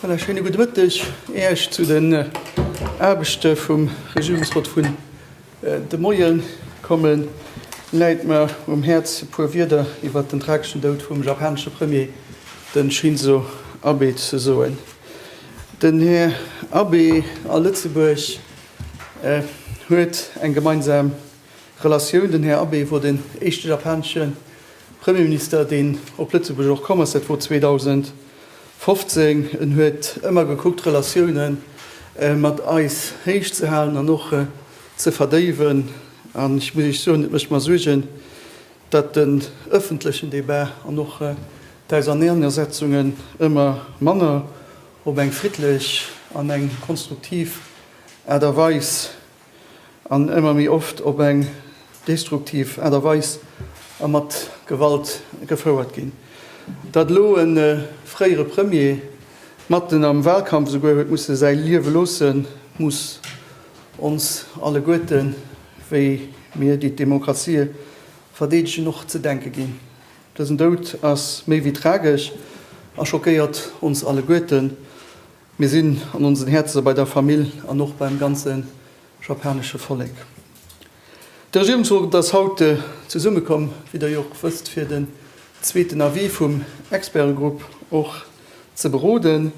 Voilà, schöne guten Mëtteg Äech zu den Aarbechte vum Regierungsrot vun De Moien kommen läit mer um Häerz e puer Wierder iwwert den trageschen Doud vum japanesche Premier, den Shinzo Abe ze soen. Den Här Abe a Lëtzebuerg huet eng gemeinsam Relatioun. Den Här Abe wor den éischte japanesche Premierminister deen op Lëtzebuerg och komm ass, dat wor 2000. 15, En huet ëmmer gekuckt d'Relatioune mat eis héich ze halen an och ze verdéiwen. An ech muss Iech soen, et mécht mer Suergen, datt den ëffentlechen Debat an och d'Auserneanersetzungen ëmmer manner op eng friddlech an eng konstruktiv Aart a Weis, an ëmmer méi oft op eng destruktiv Aart a Weis a mat Gewalt gefouert ginn. Datt elo e fréiere Premier matten am Wahlkampf esouguer huet musse säi Liewe loossen, muss ons alleguerten, wéi mir déi d'Demokratie verdeedegen, och ze denke ginn. Dësen Doud ass méi wéi tragesch a schockéiert ons alleguerten. Mir sinn an onsen Häerze bei der Famill an och beim ganze japanesche Vollek. De Regierungsrot ass haut zesummekomm, wéi Der jo och wësst, fir den zweeten Avis vum Expertegrupp och ze beroden.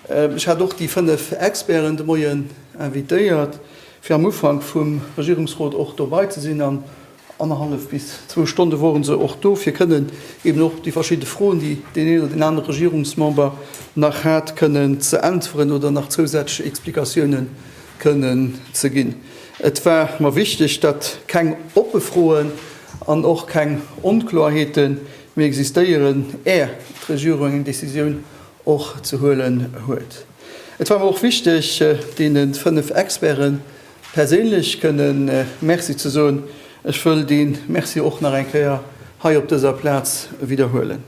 Ech hat och déi fënnef Experten de Moien invitéiert, fir am Ufank vum Regierungsrot och dobei ze sinn an Annerhallef bis zwou Stonne wore se och do, fir kënnen eben och déi verschidde Froen, déi deen een oder deen anere Regierungsmember nach hat, kënnen ze äntweren oder nach zousätzlech Explikatioune kënnen ze ginn. Et war mer wichteg, datt keng oppe Froen an och keng Onkloerheete méi existéieren, är d'Regierung eng Decisioun och ze huelen huet. Et war mer och wichteg, deene fënnef Experten, Perséinlech kënnen Merci ze soen. Ech wëll dee Merci och nach eng Kéier hei op dëser Plaz widderhuelen.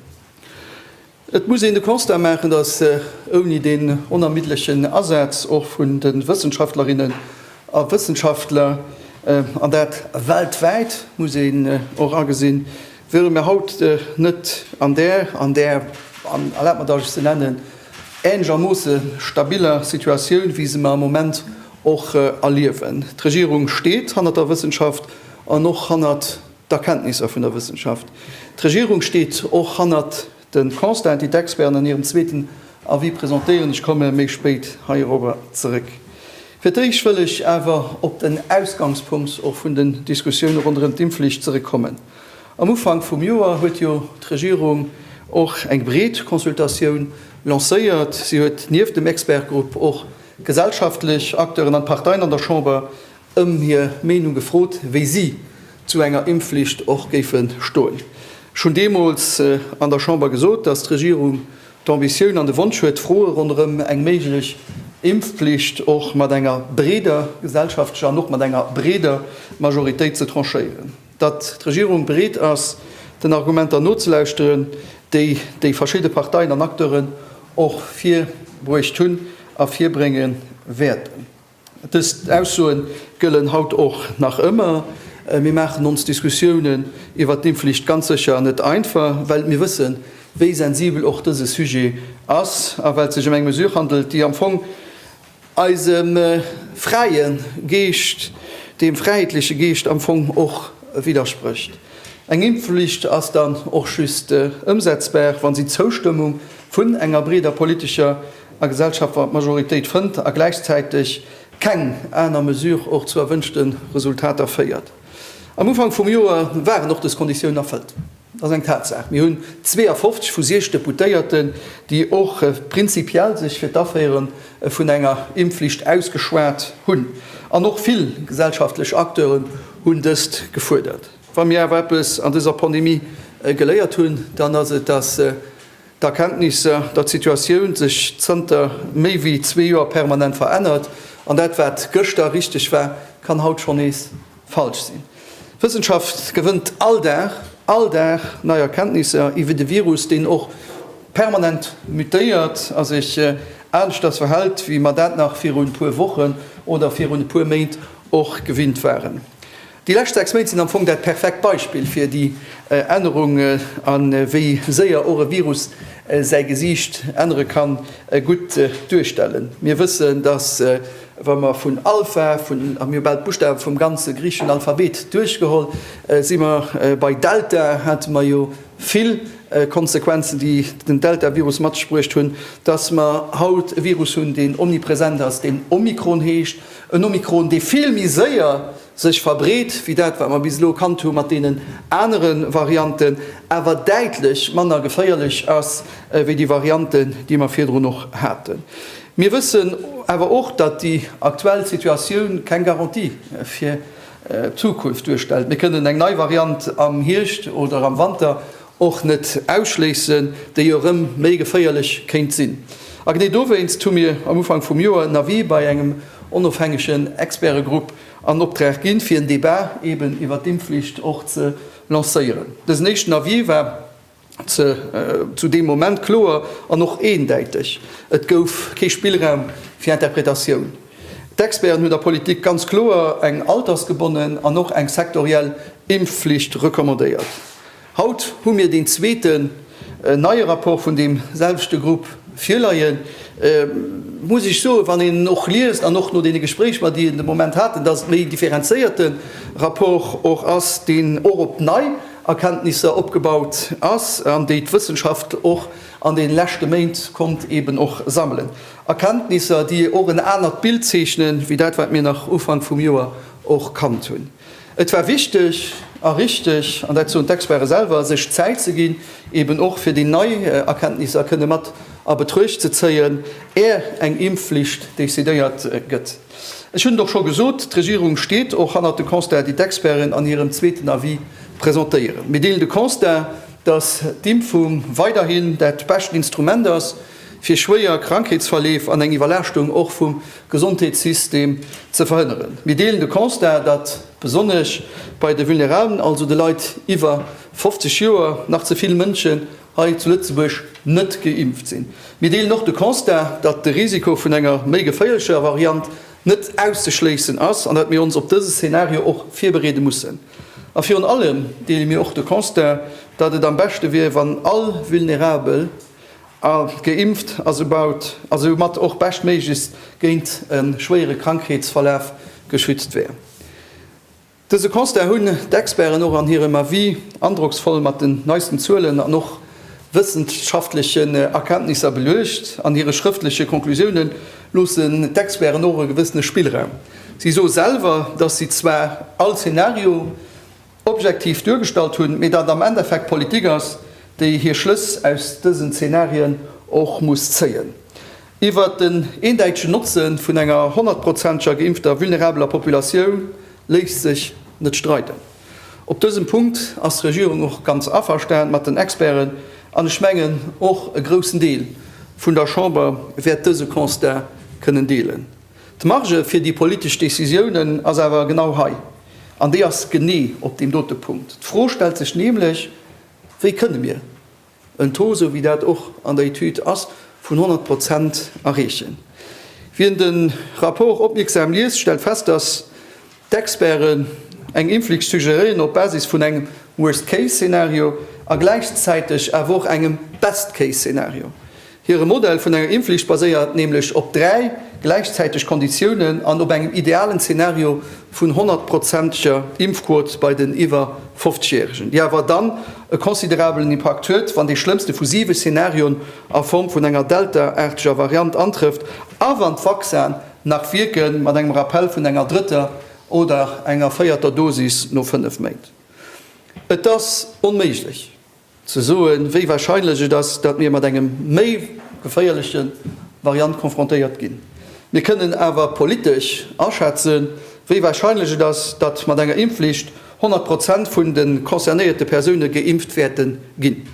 Et muss een de Constat maachen, dass ouni deen onermiddlechen Asaz och vun de Wëssenschaftlerinnen a Wëssenschaftler, an dat weltwäit, muss een och agesinn, wiere mir haut net an där, an där, an erlaabt mer, dass ech se nennen, ähnlechermoosse stabiler Situatioun, wéi se mer am Moment och erliewen. D'Regierung steet hannert der Wëssenschaft an och hannert d'Erkenntnisser vun der Wëssenschaft. D'Regierung steet och hannert de Constaten, déi d'Experten an hirem zweeten Avis presentéieren. Ech komme méi spéit heirobber zeréck. Fir d'éischt wëll ech awer op den Ausgangspunkt och vun den Diskussioune ronderëm d'Impfflicht zeréckkommen. Am Ufank vum Joer huet jo d'Regierung och eng breet Consultatioun lancéiert. Si huet nieft dem Expertegrupp och Gesellschaftlech Acteuren an d'Parteien an der Chamber ëm hir Meenung gefrot, wéi si zu enger Impfflicht och géife stoen. Ech hunn deemools an der Chamber gesot, datt d'Regierung d'Ambitioun an de Wonsch huet, d'Froe ronderëm eng méiglech Impfflicht och mat enger breeder gesellschaftlecher an och mat enger breeder Majoritéit ze tranchéieren. datt d'Regierung bereet ass, den Argumenter nozelauschteren, déi déi verschidde Parteien an Acteuren och virbruecht hunn a virbrénge wäerten. Dës Aussoe gëllen haut och nach ëmmer. Mir maachen ons d'Diskussiounen iwwert d'Impfflicht ganz sécher net einfach, well mir wëssen, wéi sensibel och dëse Sujet ass a well et sech ëm eng Mesure handelt, déi am Fong, eisem fräie Geescht, deem fräheetleche Geescht am Fong och widdersprécht. Eng Impfflicht ass dann och just ëmsetzbar, wa si d'Zoustëmmung vun enger breeder politescher a gesellschaftler Majoritéit fënnt a gläichzäiteg keng aner Mesure och zu erwënschte Resultater féiert. Am Ufank vum Joer waren och dës Konditiounen erfëllt. Et ass eng Tatsaach, mir hunn 52 vu 60 Deputéierten, déi och prinzipiell sech fir d'Aféiere vun enger Impfflicht ausgeschwat hunn. An och vill gesellschaftlech Acteuren hunn dëst gefuerdert. Wa mir awer eppes an dëser Pandemie geléiert hunn, dann ass et, dass d'Erkenntnisser, dass d'Situatioun sech zënter méi wéi zwee Joer permanent verännert. An dat, wat gëschter richteg war, kann haut schonn nees Falsch sinn. D'Wëssenschaft gewënnt all Dag, all Dag nei Erkenntnisser iwwert e Virus, deen och permanent mutéiert a sech aneschters verhält, wéi mer dat nach virun e puer Wochen oder virun e puer Méint och gewinnt waren. Déi lescht 6 Méint sinn am Fong dat perfekt Beispill fir déi Ännerung a wéi séier och e Virus säi Gesiicht ännere kann, gutt duerstellen. Mir wëssen, dass Wa mer vun Alpha, vun, a mir hu bal d'Buschtawe vum ganze griicheschen Alphabet duerchgeholl, si mer bei Delta, hate mer jo vill Konsequenzen, déi den Deltavirus mat sech bruecht hunn, dass mer haut e Virus hunn, deen omnipresent ass, deen Omikron heescht, en Omikron, dee vill méi séier sech verbreet wéi dat wat mer bis elo kannt hu mat deenen anere Varianten, awer däitlech manner geféierlech ass wéi déi Varianten, déi mer virdrun och haten. Mir wëssen awer och, datt déi aktuell Situatioun keng Garantie fir d'Zukunft duerstellt. Mir kënnen eng nei Variant am Hierscht oder am Wanter och net ausschléissen, déi jo erëm méi geféierlech kéint sinn. A genee dowéinst hu mir am Ufank vum Joer en Avis bei engem onofhängegen Expertegrupp an Optrag ginn, fir en Debat eben iwwert d'Impfflicht och ze lancéieren. Dësen éischten Avis war ze zu deem Moment kloer an och eendäiteg. Et gouf kee Spillraum fir Interpretatioun. D'Experten hunn der Politik ganz kloer eng altersgebonnen an och eng sektoriell Impfflicht recommandéiert. Haut hu mir deen zweeten neie Rapport vun deem selwechte Grupp virleien. Muss ech soen, wann een en och liest an och no deene Gespréich mer, déi een de Moment haten, dass et méi en differenzéierte Rapport och ass, deen och op nei Erkenntnisser opgebaut ass an déi d'Wëssenschaft och an deene leschte Méint konnt eeben och sammelen. Erkenntnisser, déi och en anert Bild zeechnen, wéi dat, wat mir nach Ufank vum Joer och kannt hunn. Et war wichteg a richteg, an dat soen d'Experte selwer, sech Zäit ze ginn, eben och fir déi nei Erkenntnisser kënne mat a Betruecht ze zéien, är eng Impfflicht decidéiert gëtt. Ech hunn et och scho gesot, d'Regierung steet och hannert de Constat, déi d'Experten an hirem zweeten Avis presentéieren. Mir deelen de Constat, datt d'Impfung weiderhin dat bescht Instrument ass, fir schwéier Krankheetsverleef an eng Iwwerlaaschtung och vum Gesondheetssystem ze verhënneren. Mir deelen de Constat, datt besonnesch bei de Vulnerablen, also de Leit iwwer 50 Joer, nach ze vill Mënschen hei zu Lëtzebuerg net geimpft sinn. Mir deelen och de Constat, datt de Risiko vun enger méi geféierlecher Variant net auszeschléissen ass an datt mir ons op dëse Szenario och virbereede mussen. A virun allem deele mir och de Constat, datt et am beschte wier, wann all Vulnerabel, A geimpft a soubaut a soumat och beschtméiglechst géint e schwéiere Krankheetsverlaf geschützt wär. Dëse Constat hunn d'Experten och an hirem Avis androcksvoll mat den neisten Zuelen an och wëssenschaftlechen Erkenntnisser beluecht. An hire schrëftleche Conclusiounen loossen d'Experten och e gewëssene Spillraum. Si soe selwer, datt si zwar all Zenario, objektiv duergestallt hunn, mee datt am Endeffekt d'Politik ass, déi hir Schlëss aus dësen Zenarien och muss zéien. Iwwert den eendäitegen Notze vun enger honnertprozenteger geimpfter vulnerabeler Populatioun léisst sech net streiden. Op dësem Punkt ass d'Regierung och ganz averstan mat den Experten, an ech mengen, och e groussen Deel vun der Chamber wäert dëse Constat kënnen deelen. D'Marge fir déi politesch Décisiounen ass awer genau hei, an déi ass genee op deem dote Punkt. D'Fro stellt sech nämlech, Wéi kënne mir en Taux, esou wéi dat och an der Etüd ass, vun 100 Prozent erreechen? Wien de Rapport opmierksam liest, stellt fest, dass D'Experten eng Impflicht suggeréieren op Basis vun engem Worst Case Szenario a gläichzäiteg awer och engem Best Case Szenario. Hire Modell vun enger Impflicht baséiert nämlech op dräi gläichzäiteg Konditiounen an op engem idealen Szenario vun honnertprozenteger Impfquot bei den iwwer 50 Järegen, déi awer dann e considerabelen Impakt huet, wann dee schlëmmste vu siwe Szenarioen a Form vun enger Delta-aarteger Variant antrëfft a wann d'Vaccinen Nach wierke mat engem Rappell vun enger drëtter oder enger véierter Dosis no fënnef Méint? Et ass onméiglech ze soen, wéi warscheinlech et ass, datt mir mat engem méi geféierleche Variant konfrontéiert ginn. Mir kënnen awer politesch aschätzen, wéi warscheinlech et ass, datt mat enger Impfflicht 100 Prozent vun de concernéierte Persoune geimpft wäerte ginn.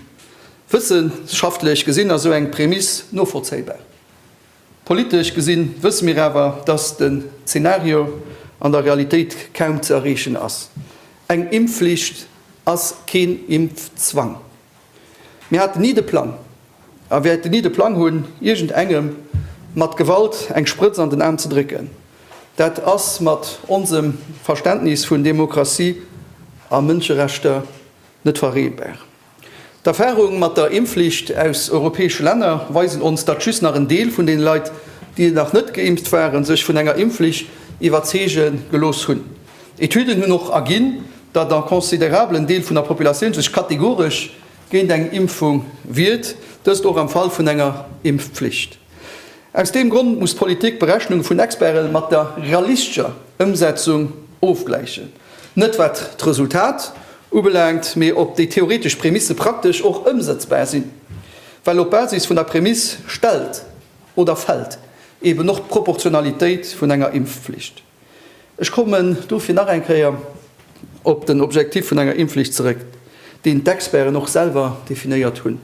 Wëssenschaftlech gesinn ass esou eng Prämiss novollzéibar. Politesch gesinn wësse mir awer, dass den Zenario an der Realitéit kaum ze erreechen ass. Eng Impfflicht ass keen Impfzwang. Mir haten ni de Plang a wäerten ni de Plang hunn, iergend engem mat Gewalt eng Sprëtz an den Aarm ze drécken. Dat ass mat onsem Verständnis vun Demokratie a Mënscherechter net vereenbar. D'Erfahrung mat der Impfflicht aus europäesche Länner weisen ons, datt just nach en Deel vun den Leit, déi nach net geimpft waren, sech vun enger Impfflicht iwwerzeege gelooss hunn. Etüden hunn och erginn, datt en considerablen Deel vun der Populatioun sech kategoresch géint eng Impfung wiert, dëst och am Fall vun enger Impfflicht. Aus deem Grond muss d'Politik d'Berechnunge vun Experte mat der realistscher Ëmsetzung ofgläichen. Net wat d'Resultat ubelaangt, mee ob déi theoretesch Prämisse praktesch och ëmsëtzbar sinn. Well op Basis vun der Prämiss stellt oder fält eben och d'Proportionalitéit vun enger Impfflicht. Ech kommen dofir nach eng Kéier op den Objektiv vun enger Impfflicht zeréck, deen d'Experten och selwer definéiert hunn.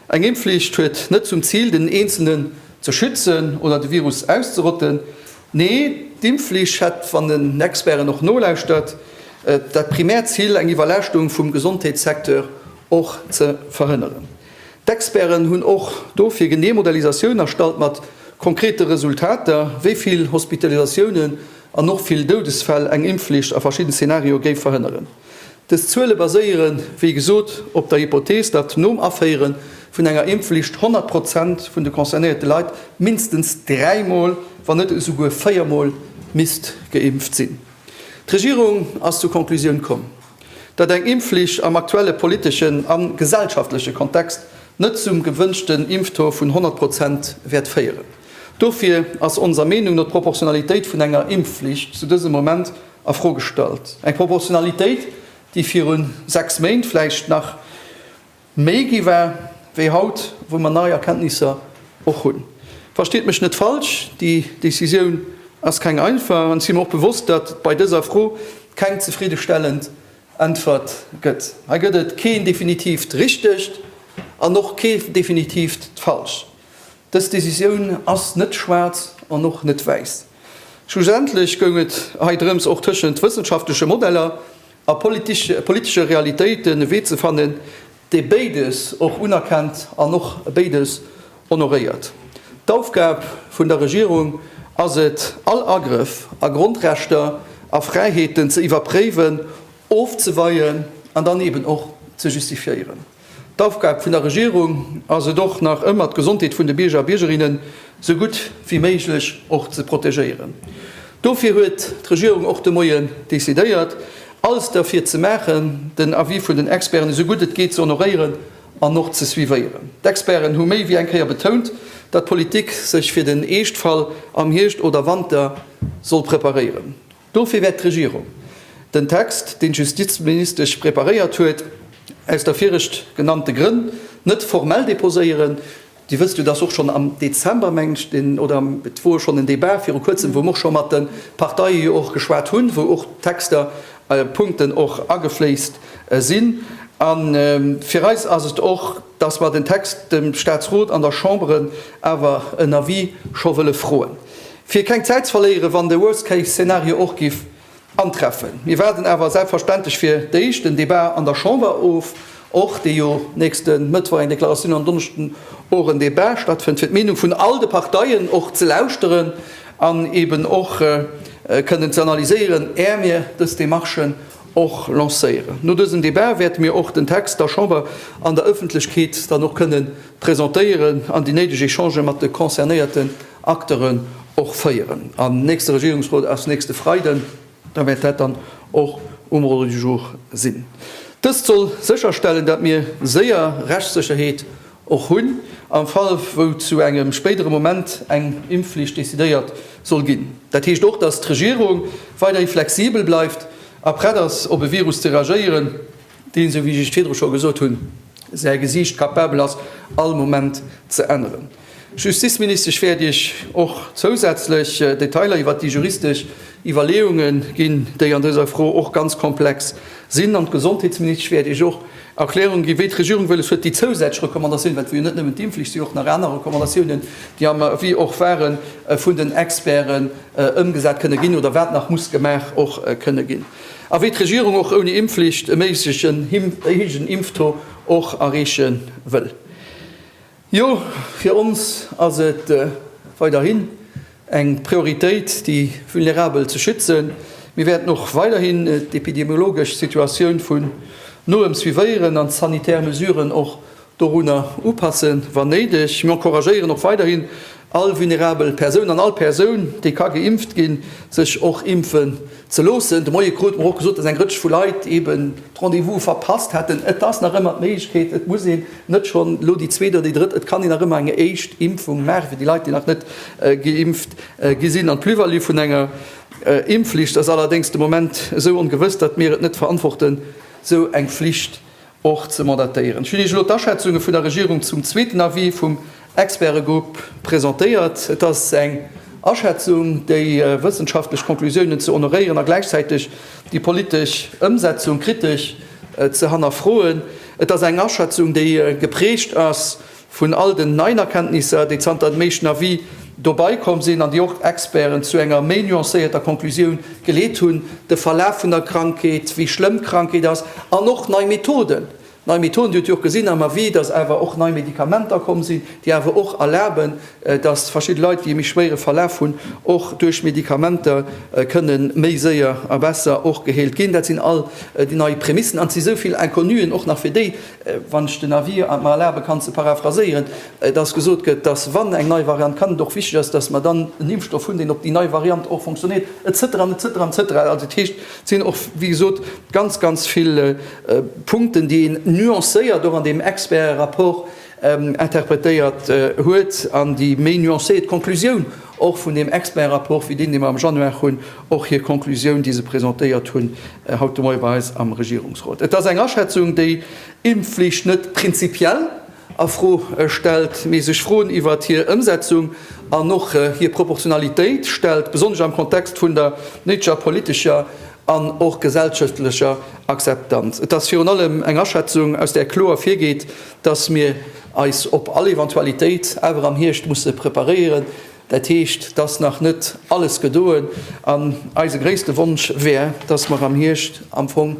Eng Impfflicht huet net zum Zil, den Eenzelnen ze schützen oder de Virus auszerotten, Nee, d'Impfflicht hätt, wann en Experten och nolauschtert, dat primäert Zil, eng Iwwerlaaschtung vum Gesondheetssecteur och ze verhënneren. D'Experten hunn och dofir genee Modellisatioun erstallt mat konkrete Resultater, wéi vill Hospitalisatiounen an och vill Doudesfäll eng Impfflicht a verschidden Zenario géif verhënneren. Dës Zuele baséiere wéi gesot op der Hypothees, datt nom Aféiere vun enger Impfflicht 100 Prozent vun de concernéierte Leit mindestens dräi Mol, wann net esou guer véier Mol misst geimpft sinn. D'Regierung ass zur Konklusioun komm, datt eng Impfflicht am aktuelle politeschen a gesellschaftleche Kontext net zum gewënschten Impftaux vun 100 Prozent wäert féieren. Dofir ass onser Meenung no d'Proportionalitéit vun enger Impfflicht zu dësem Moment a Fro gestallt. Eng Proportionalitéit, déi viru sechs Méint vläicht nach méi gi war wéi haut, wou mer nei Erkenntnisser och hunn. Versteet mech net falsch, déi Decisioun ass keng einfach an ech si mer och bewosst, datt et bei dëser Fro keng zefriddestellend Äntwert gëtt. Hei gëtt et keen definitiivt Richtegt an och kee definitiivt Falscht. Dës Decisioun ass net schwaarz an och net wäiss. Schlussendlech goung et hei drëms, och tëschent wëssenschaftleche Modeller a politesche Realitéiten e Wee ze fannen, dee béides och unerkennt an och béides honoréiert. D'Aufgab vun der Regierung ass et, all Agrëff a Grondrechter a Fräiheeten ze iwwerpréiwen, ofzeweien an dann eeben och ze justifiéieren. D'Aufgab vun der Regierung ass et och nach ëmmer d'Gesondheet vun de Bierger a Biergerinnen sou gutt wéi méiglech och ze protegéieren. Dofir huet d'Regierung och de Moie decidéiert alles derfir ze maachen, den Avis vun den Experten esou gutt et geet ze honoréieren an och ze suivéieren. D'Experten hu méi wéi eng Kéier betount, datt d'Politik sech fir den Eeschtfall am Hierscht oder Wanter soll preparéieren. Dofir wäert d'Regierung den Text, deen d'Justizministesch preparéiert huet, aus der viregt genannte Grënn net formell deposéieren. Dir wësst jo, dass och schonn am Dezember, mengen ech, deen, oder et wor schonn en Débat viru Kuerzem, wou mer och scho mat de Parteie jo och geschwat hunn, wou och d'Texter, Punkten och agefléisst sinn. A fir eis ass et och, dass mer den Text dem Statsrot an der Chambre awer en Avis scho wëlle froen. Fir keng Zäit ze verléieren, wann de Worst Case Szenario och giff antreffen. Mir waarden awer selbstverständlech fir d'éischt den Debat an der Chamber of, och dee jo nächste Mëttwoch eng Deklaratioun an Donneschden och en Debat stattfënnt, fir d'Meenung vun all de Parteien och ze lauschteren an eben och kënnen ze analyséieren, är mir dës Demarchen och lancéieren. No dësem Debat wäerte mir och den Text der Chamber an der Ëffentlechkeet dann och kënnen presentéieren an déi néideg Echangë mat de concernéierte Acteuren och féieren. Am nächste Regierungsrot ass nächste Freiden, da wäert dat dann och um Ordre du jour sinn. Dëst soll sécherstellen, datt mir séier Rechtssécherheet och hunn am Fall, wou zu engem spéidere Moment eng Impfflicht decidéiert soll ginn. Dat heescht och, datt d'Regierung weiderhi flexibel bleift a prett ass, op e Virus ze reagéieren, deen, esou wéi ech virdru scho gesot hunn, säi Gesiicht capabel ass all Moment ze änneren. D'Justizministesch wäert Iech och zousätzlech Detailer iwwert déi juristesch Iwwerleeunge ginn, déi an dëser Fro och ganz komplex sinn. An d'Gesondheetsministesch wäert Iech och Erklärung ginn, wéi d'Regierung wëlles huet, déi zousätzlech Recommandatioune, well et wier jo net nëmmen d'Impfflicht, et si jo och nach aner Recommandatiounen, déi am Avis och waren, vun den Experten ëmgesat kënne ginn oder wat nach muss gemaach och kënne ginn. A wéi d'Regierung och ouni Impfflicht e méiglechen héijen Impfto och erreeche wëll. Jo, fir ons ass et weiderhin eng Prioritéit, déi Vulnerabel ze schützen. Mir wäerten och weiderhin d'epidemiologesch Situatioun vun noem suivéieren an d'sanitär Mesuren och dorunner upassen, wann néideg. Mir encouragéieren och weiderhin all vulnerabel Persoun an all Persoun, déi ka geimpft ginn, sech och impfen ze loossen. De Moie krute mer och gesot, dass eng Rëtsch vu Leit eeben d'Rendez-vouse verpasst hätten. Et ass nach ëmmer d'Méiglechkeet, et muss een net schonn elo déi zweet oder déi drëtt, et kann een nach ëmmer eng éischt Impfung maachen, fir déi Leit, déi nach net geimpft gi sinn. An d'Plus-value vun enger Impfflicht ass allerdéngs de Moment esou ongewëss, datt mir et net verantworten, esou eng Flicht och ze mandatéieren. Ech hunn Iech elo d'Aschätzunge vun der Regierung zum zweeten Avis vum Expertegrupp presentéiert. Et ass eng Aschätzung, déi wëssenschaftlech Conclusiounen ze honoréieren a gläichzäiteg déi politesch Ëmsetzung kritesch ze hannerfroen. Et ass eng Aschätzung, déi geprägt ass Vun all den neien Erkenntnisser, déi zanter dem éischten Avis dobai komm sinn an déi och d'Experten zu enger méi nuancéierter Conclusioun geleet hunn, de Verlaf vun der Krankheet, wéi schlëmm d'Krankheet ass, an och nei Methoden, nei Methoden, Dir hutt jo och gesinn am Avis, dass awer och nei Medikamenter komm sinn, déi awer och erlaben, dass verschidde Leit, déi e méi schwéiere Verlaf hunn, och duerch Medikamenter kënne méi séier a besser och geheelt ginn. Dat sinn all déi nei Prämissen an et si souvill Inconnuen och nach fir déi, Wann ech den Avis mer erlabe kann ze paraphraséieren, dass gesot gëtt, dass, wann eng nei Variant kann, et och wichtig ass, dass mer dann en Impfstoff hunn, deen op déi nei Variant och funktionéiert, et cetera, et cetera, et cetera. Also dat heescht, et sinn och, wéi gesot, ganz, ganz vill Punkten, déi een nuancéiert och an deem Expertenrapport interpretéiert huet an déi méi nuancéiert Konklusioun och vun deem Expertrapport wéi deen, dee mer am Januar hunn, och hir Conclusioun, déi se presentéiert hunn haut de Moie bei eis am Regierungsrot. Et ass eng Aschätzung, déi d'Impfflicht net prinzipiell a Fro stellt, mee sech Froen iwwert hir Ëmsetzung an och hir Proportionalitéit stellt, besonnesch am Kontext vun der néidleger politescher an och gesellschaftlecher Akzeptanz. Et ass virun allem eng Aschätzung, aus där kloer ervirgeet, dass mir eis op all Eventualitéit awer am Hierscht musse preparéieren, dat heescht, et ass nach net alles gedoen, an eise gréisste Wonsch wär, dass mer am Hierscht am Fong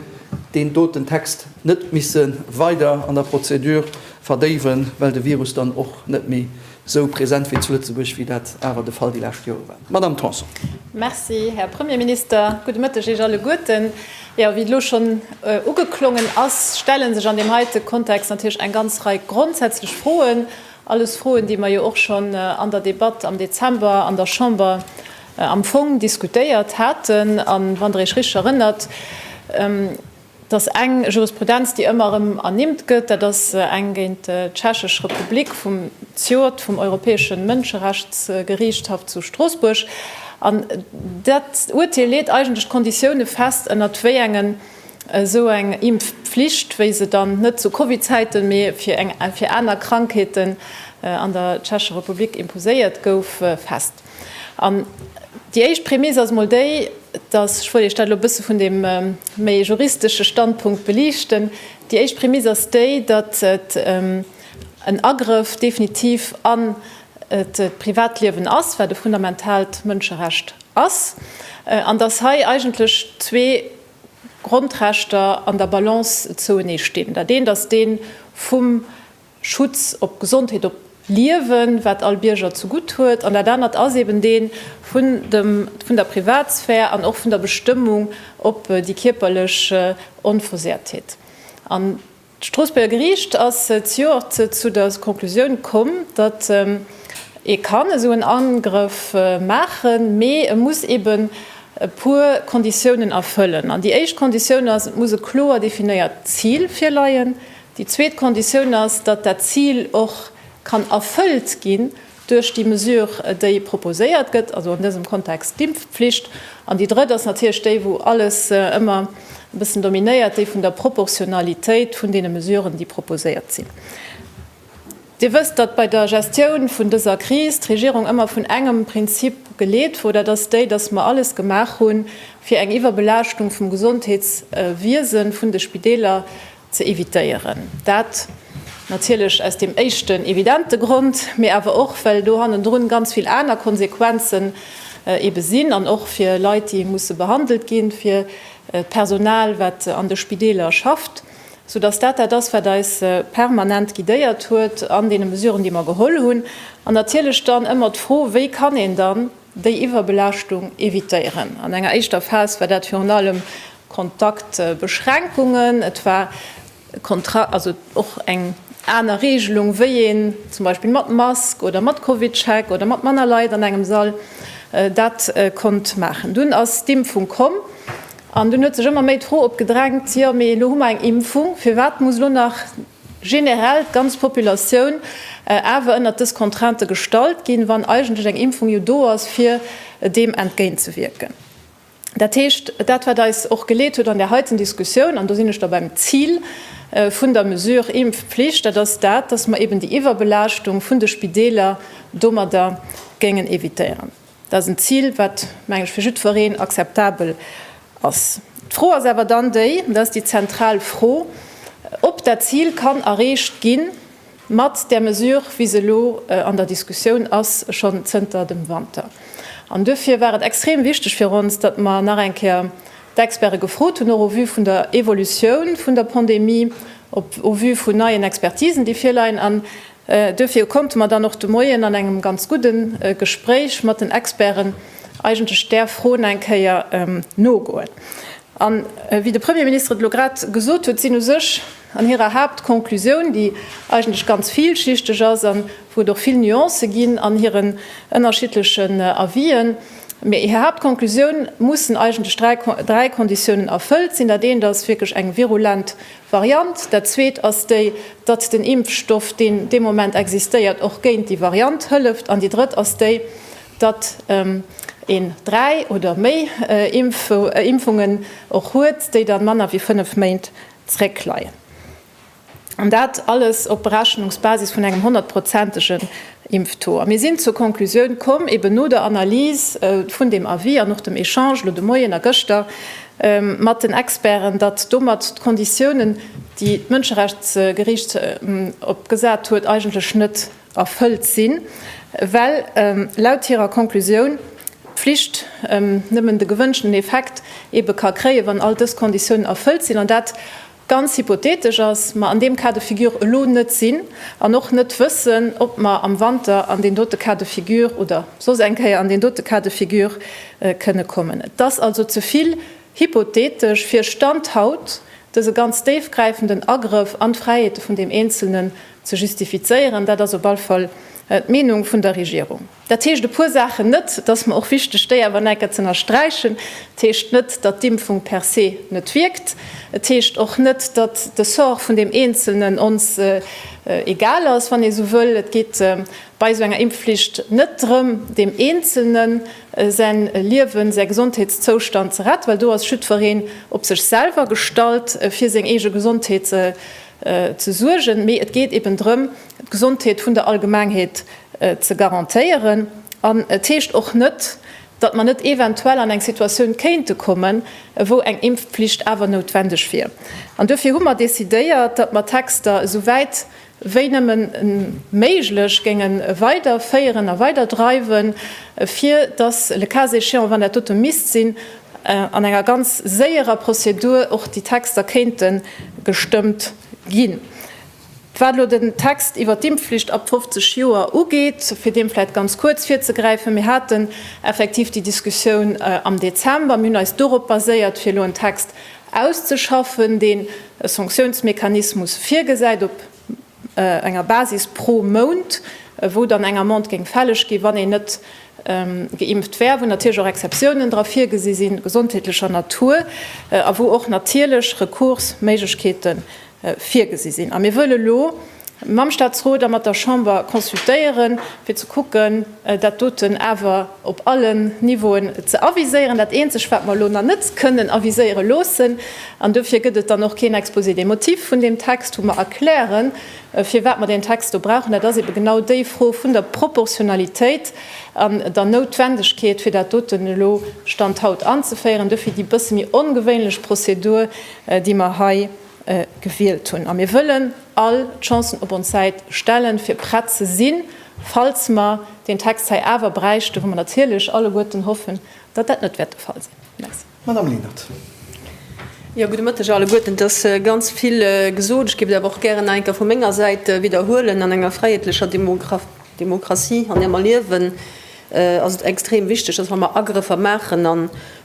deen doten Text net misse weider an der Prozedur verdéiwen, well de Virus dann och net méi Esou present wéi zu Lëtzebuerg wéi dat awer de Fall déi lescht Jore war. Madamm Tanson. Merci, Här Premierminister. Gudde Mëtteg Iech alleguerten. Jo, wéi elo schonn ugeklongen ass, stelle sech an deem heite Kontext natierlech eng ganz Rei grondsätzlech Froen, alles Froen, déi mer jo och schonn an der Debatt am Dezember an der Chamber am Fong diskutéiert haten. A wann Der Iech richteg erënnert, Et ass eng Jurisprudenz, déi ëmmer erëm ernimmt gëtt. Dat ass eng géint d'Tschechesch Republik vum CJOR, vum Europäesche Mënscherechtsgeriichtshaff zu Stroossbuerg. An dat Urteel leet eigentlech d'Konditioune fest, ënnert wéi engen esou eng Impfflicht, wéi se dann net zu Covid-Zäiten, mee fir aner Krankheeten an der Tschechescher Republik imposéiert gouf, fest. An déi éischt Prämiss ass emol déi, dass, ech wollt Iech dat elo e bësse vun deem méi juristesche Standpunkt belichten, déi éischt Prämiss ass déi, datt et en Agrëff definitiv an d'Privatliewen ass, wat e fundamentaalt Mënscherecht ass, an datt hei eigentlech zwee Grondrechter an der Balance zouenee stinn, dat eent ass dee vum Schutz op d'Gesondheet, op d'Liewen, wat all Bierger zu gutt huet, an dat anert ass eben dee vun dem, vun der Privatsphär an och vun der Bestëmmung op déi kierperlech Onversehrtheet. An d'Stroossbuerger Geriicht ass zejoert zu der Conclusioun komm, datt ee kann esou en Angrëff maachen, mee e muss eben e puer Konditiounen erfëllen. An déi éischt Konditioun ass, et muss e kloer definéiert Zil virleien, Déi zweet Konditioun ass, datt dat Zil och kann erfëllt ginn duerch déi Mesure, déi proposéiert gëtt, also an dësem Kontext d'Impfpflicht. An déi drëtt ass natierlech déi, wou alles ëmmer e bëssen dominéiert, déi vun der Proportionalitéit vun deene Mesuren, déi proposéiert sinn. Dir wësst, datt bei der Gestioun vun dëser Kris d'Regierung ëmmer vun engem Prinzip geleet wor, dat ass déi, datt mer alles gemaach hunn, fir eng Iwwerbelaaschtung vum Gesondheetswiese vun de Spideeler ze evitéieren. Dat natierlech aus deem éischten evidente Grond, mee awer och well do hannendrun ganz vill aner Konsequenzen ebe sinn an och fir Leit, déi musse behandelt ginn, fir d'Personal, wat an de Spideeler schafft, soudass dat dat ass, wat eis permanent guidéiert huet an deene Mesuren, déi mer geholl hunn. An natierlech dann ëmmer d'Fro, Wéi kann een dann Déi Iwwerbelaaschtung evitéieren. An enger éischter Phas war dat virun allem Kontaktbeschränkungen. Et war och eng aner Reegelung, wéi een zum Beispill mat Mask oder mat Covidcheck oder mat manner Leit an engem Sall dat konnt maachen. Dunn ass d'Impfung komm an dunn huet sech ëmmer méi d'Fro opgedrängt, jo mee elo hu mer eng Impfung, firwat muss elo nach generell d'ganz Populatioun awer ënnert dës Contraintë gestallt ginn, wann eigentlech eng Impfung jo do ass, fir deem entgéintzewierken. Dat heescht, dat, wat eis och geleet huet an där heiten Diskussioun, an do sinn ech da beim Zil vun der Mesure Impfpflicht, dat ass dat, dass mer eeben déi Iwwerbelaaschtung vun de Spideeler domadder géingen évitéieren. Dat ass en Zil, wat, meng ech, fir jiddwereen akzeptabel ass. D'Fro ass awer dann déi, an dat ass déi zentral Fro, ob dat Zil kann erreecht gi mat där Mesure, wéi se elo an der Diskussioun ass, schonn zënter dem Wanter. An duerfir war et extrem wichteg fir ons, datt mer nach eng Kéier d'Experte gefrot hunn, och au vu vun der Evolutioun vun der Pandemie, au vu vun neien Expertisen, déi virleien, an Duerfir konnte mer dann och de Moien an engem ganz gudde Gespréich mat den Experten eigentlech där Fro nach eng Kéier nogoen. A wéi de Premier Minister et elo grad gesot huet, sinn u sech an hirer Haaptconclusioun, déi eigentlech ganz villschichteg ass a wou et och vill Nuancë ginn an hiren ënnerschiddlechen Avisen, mee hir Haaptconclusioun, mussen eigentlech dräi Konditiounen erfëllt sinn. Dat eent ass wierklech eng virulent Variant. Dat zweet ass déi, datt den Impfstoff, deen dee Moment existéiert, och géint déi Variant hëlleft. An déi drëtt ass déi, datt een dräi oder méi Impfungen och huet, déi da manner wéi fënnef Méint zréckleien. An dat alles op Berechnungsbasis vun engem honnertprozentege Impftour. A mir sinn zur Konklusioun komm, eben no der Analys vun deem Avis an och dem Echange elo de Moien a gëschter mat den Experten, datt domat d'Konditiounen, déi d'Mënscherechtsgeriicht opgesat huet, eigentlech net erfëllt sinn, well laut hirer Konklusioun d'Pflicht nëmmen de gewënschten Effekt ebe ka kréien, wann all dës Konditiounen erfëllt sinn. An dat ganz hypothetesch ass, mer an deem Cas de figure elo net sinn an och net wëssen, ob mer am Wanter an deen dote Cas de figure oder soss eng Kéier an deen dote Cas de figure kënne kommen. Et ass also ze vill hypothetesch, fir Stand haut dese ganz déifgräifenden Agrëff an d'Fräiheete vun deem Eenzelnen ze justifizéieren. Dat ass op alle Fall d'Meenung vun der Regierung. Dat heescht e puer Saachen net. Et ass mer och wichteg, déi awer nach eng Kéier z'ënnersträichen. Et heescht net, datt d'Impfung per se net wierkt. Et heescht och net, datt de Sort vun deem Eenzelnen ons egal ass, wann ee sou wëll. Et geet bei esou enger Impfflicht net drëm, deem Eenzelne säin Liewen, säi Gesondheetszoustand ze retten, well do ass jiddwereen op sech selwer gestallt, fir seng eege Gesondheet ze suergen. Mee et geet eben drëm, d'Gesondheet vun der Allgemengheet ze garantéieren. An et heescht och net, datt mer net eventuell an eng Situatioun kéinte kommen, wou eng Impfpflicht awer noutwendeg wier. An duerfir hu mer decidéiert, datt mer d'Texter esou wäit wéi nëmme méiglech géinge weiderféieren a weiderdreiwen, fir datt, le cas échéant, wann dat dote misst sinn, an enger ganz séierer Prozedur och déi Texter kéinte gestëmmt ginn. Wat elo den Text iwwert d'Impfflicht ab 50 Joer ugeet, fir deem vläit ganz kuerz virzegräifen, Mir haten effektiv déi Diskussioun am Dezember. Mir hunn eis dorop baséiert, fir elo en Text auszeschaffen, deen e Sanktiounsmechanismus virgesäit op enger Basis pro Mount, wou dann eng Amende géing fälleg ginn, wann een net geimpft wär, wou natierlech och Exceptiounen dra virgesi sinn, gesondheetlecher Natur, a wou och natierlech Rekursméiglechkeete virgesi sinn. A mir wëlle elo mam Statsrot a mat der Chamber consultéieren, fir ze kucken, dat doten awer op allen Niveauen ze aviséieren. Dat Eenzegt, wat mer elo nach net kënnen aviséiere loossen, an dofir gëtt et dann och keen Exposé des motifs vun deem Text, wou mer erklären, firwat mer deen Text do brauchen, dat ass ebe genau déi Fro vun der Proportionalitéit an der Noutwendegkeet, fir dat doten elo, Stand haut, anzeféieren. Dofir déi bësse méi ongewéinlech Prozedur. déi mer hei gewielt hunn, a mir wëllen all d'Chancen op ons Säit stellen, fir prett ze sinn, falls mer deen Text hei awer bräichten, wou mer natierlech alleguerten hoffen, datt dat net wäert de Fall sinn. Merci. Madame Lenert. Jo, gudde Mëtteg alleguerten. Et ass ganz vill gesot. Ech géif et awer och gären nach eng Kéier vu menger Säit widderhuelen, An enger fräiheetlecher Demokratie, an där mer liewen, ass et extrem wichteg, dass, wa mer Agrëffer maachen a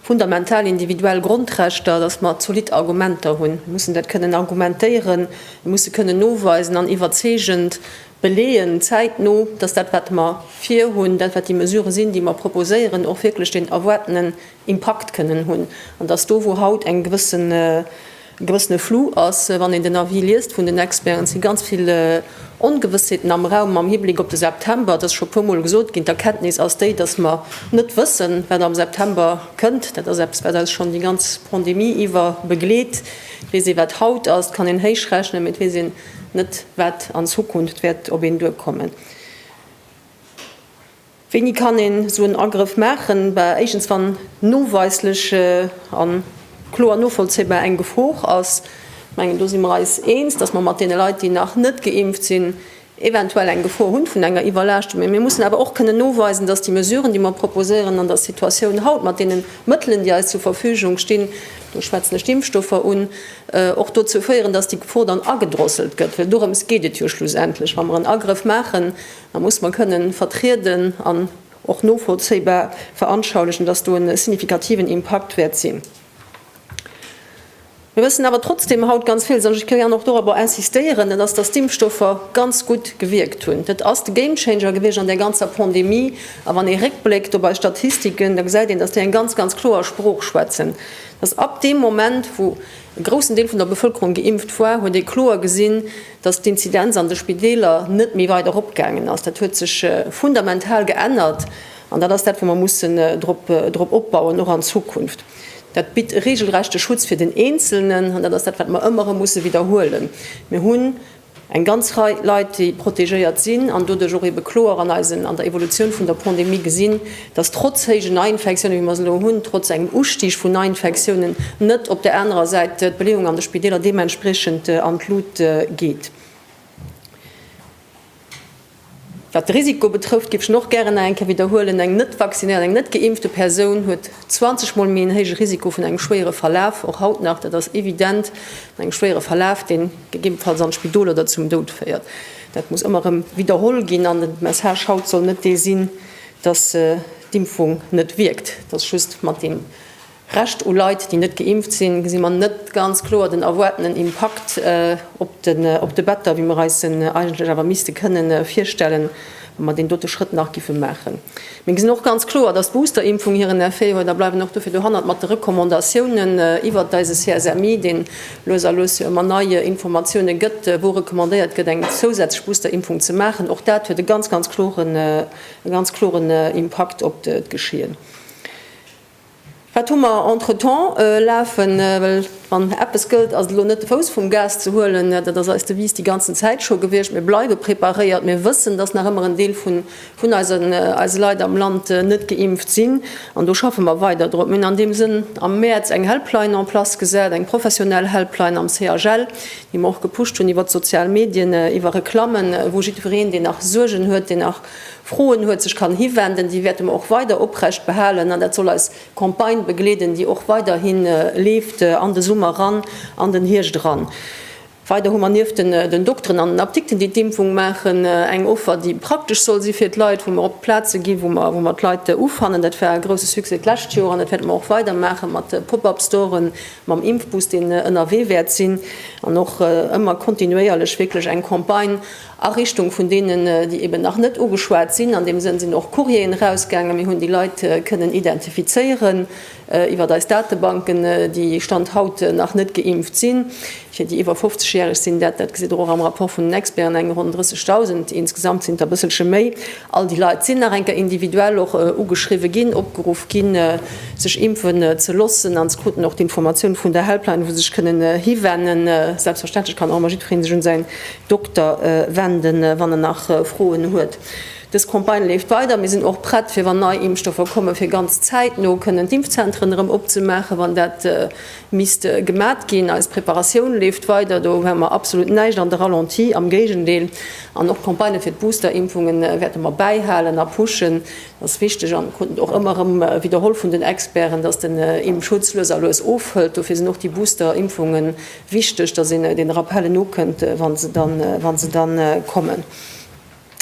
fundamental individuell Grondrechter, dass mer zolidd Argumenter hunn. Mir mussen dat kënnen argumentéieren, mir musse kënnen noweisen an iwwerzeegend beleeën, zäitno, dass dat, wat mer virhunn, dat, wat déi Mesurë sinn, déi mer proposéieren, och wierklech deen erwaartenen Impakt kënnen hunn an dass do, wou haut eng gewëssen, E gewëssene Flou ass, wann een den Avis liest vun den Experten. Et si ganz vill Ongewëssheeten am Raum am Hibleck op de September. Et ass scho e puer Mol gesot ginn, d'Erkenntnis ass déi, dass mer net wëssen, wat am September kënnt. Dat ass eppes, wat eis schonn déi ganz Pandemie iwwer begleet. Et weess ee, wat haut ass, et kann een héich rechnen, mee et weess een net, wat an Zukunft wäert op een duerkommen. Wéini kann een esou en Agrëff maachen? Bah, éischtens wann noweislech a kloer novollzéibar eng Gefor ass. Ech mengen, do si mer eis eens, dass mer mat deene Leit, déi nach net geimpft sinn, eventuell eng Gefor hunn vun enger Iwwerlaaschtung. Mee mir mussen awer och kënnen noweisen, dass déi Mesuren, déi mer proposéieren, an der Situatioun haut, mat deene Mëttelen, déi eis zur Verfügung stinn, do schwätzen ech d'Impfstoffer un, och dozou féieren, dass déi Gefor dann agedrosselt gëtt. Well dorëms geet et jo schlussendlech, wa mer en Agrëff maachen, Da muss mer kënnen vertrieden an och novollzéibar veranschaulichen, dass do e signifikativen Impakt wäert sinn. Mir wëssen awer trotzdem haut ganz villes, an ech wëll gären och dorobber insistéieren, dat ass, dass d'Impfstoffer ganz gutt gewierkt hunn. Dat ass de Gamechanger gewiescht an där ganzer Pandemie. A wann ee réckbléckt op eis Statistiken, da gesäit een, dass déi eng ganz, ganz kloer Sprooch schwätzen, dass ab deem Moment, wou e groussen Deel vun der Bevölkerung geimpft war, huet ee kloer gesinn, Dass d'Inzidenz an de Spideeler net méi weider eropgaangen ass, dat huet sech fundamental geännert an dat ass dat, wou mer mussen drop opbauen, och an Zukunft. Dat bitt e regelrechte Schutz fir den Eenzelnen an dat ass dat, wat mer ëmmer erëm musse widderhuelen. Mir hunn eng ganz Rei Leit, déi protegéiert sinn an doduerch och eebe kloer an der Evolutioun vun der Pandemie gesinn, dass trotz héijen Neiinfektiounen, wéi mer se elo hunn, trotz engem Ustig vun Neiinfektiounen, net op där anerer Säit d'Beleeung an de Spideeler deementspriechend an d'Lut geet. Wat de Risiko betrëfft, géif ech en och gären nach eng Kéier widderhuelen, eng net vaccinéiert, eng net geimpfte Persoun huet 20 Mol méi en héije Risiko vun engem schwéiere Verlaf, och haut nach, dat ass evident, vun engem schwéiere Verlaf, deen gegebenfalls an d'Spidol oder zum Doud féiert. Dat muss ëmmer erëm widderholl ginn an de Message haut soll net dee sinn, dass d'Impfung net wierkt, dass just mat deem Rescht u Leit, déi net geimpft sinn, gesi mer net ganz kloer den erwaartenen Impakt op de Better, wéi mer eis en eigentlech awer misste kënne virstellen, wa mer deen dote Schrëtt nach géife maachen. Mir gesinn och ganz kloer, dass d'Boosterimpfung hiren Effet huet a bleiwen och dofir dohannert mat de Recommandatiounen iwwert eise CSMI, deen lues a lues jo ëmmer nei Informatioune gëtt, wou recommandéiert gëtt, eng zousätzlech Boosterimpfung ze maachen. Och dat huet e ganz, ganz kloren. e ganz kloren Impakt op d'Geschehen. Wat hu mer entretemps lafen? Well wann eppes gëllt, ass et elo net de Fouss vum Gas ze huelen. Dat ass eis Devise déi ganzen Zäit scho gewiescht. Mir bleiwe preparéiert. Mir wëssen, dass nach ëmmer en Deel vun eise Leit am Land net geimpft sinn. An do schaffe mer weider drop. Mir hunn an deem Sënn am Mäerz eng Helpline en place gesat, eng professionell Helpline am CHL, déi mer och gepusht hunn iwwer d'sozial Medien, iwwer Reklammen, wou jiddwereen, deen nach Suergen huet, deen nach Froen huet, sech kann hiwenden, déi wäerte mer och weider oprecht behalen an dat soll eis Campagne begleeden, déi och weiderhi leeft an de Summer eran, an den Hierscht eran. Weider hu mer nieft den Dokteren an den Apdikten, déi d'Impfung maachen, eng Offer, déi praktesch soll si fir d'Leit, wou mer op d'Plaze gi wou mer d'Leit ufannen. Dat war e grouse Succès d'lescht Joer an dat wäerte mer och weider maache mat Pop-up-Storen, mam Impfbus, deen ënnerwee wäert sinn, an och ëmmer kontinuéierlech wierklech eng Campagne a Richtung vun deenen, déi eben nach net ugeschwat sinn. An deem Sënn sinn och Courrieren erausgaangen. Mir hunn déi Leit kënnen identifizéieren iwwert eis Datebanken, déi Stand haut nach net geimpft sinn. Fir déi iwwer 50 Järeg sinn dat, dat gesitt Der och am Rapport vun den Experten, eng ronn 30.000, insgesamt sinn et der e bësselche méi. All déi Leit sinn nach eng Kéier individuell och ugeschriwwe ginn, opgeruff ginn, sech impfen ze loossen, an se kruten och d'Informatioun vun der Helpline, wou se sech kënnen hiwennen. Selbstverständlech kann och ëmmer jiddweree sech un säin Dokter wenden, wann en nach Froen huet. Dës Campagne leeft weider. Mir sinn och prett, fir, wann nei Impfstoffer kommen, fir ganz zäitno kënnen d'Impfzentren erëm opzemaachen, wann dat misst gemat ginn. Eis Preparatioun leeft weider, do hu mer absolut näischt an de Ralenti, am Géigendeel. An och d'Campagne fir d'Booster-Impfunge wäerte mer bäihalen a pushen. Dat ass wichteg an krut och ëmmer erëm widderholl vun den Experten, dass den Impfschutz lues a lues ofhëlt. Dofir sinn och déi Booster-Impfunge wichteg, dass een den Rappellen nokënnt, wa se dann kommen.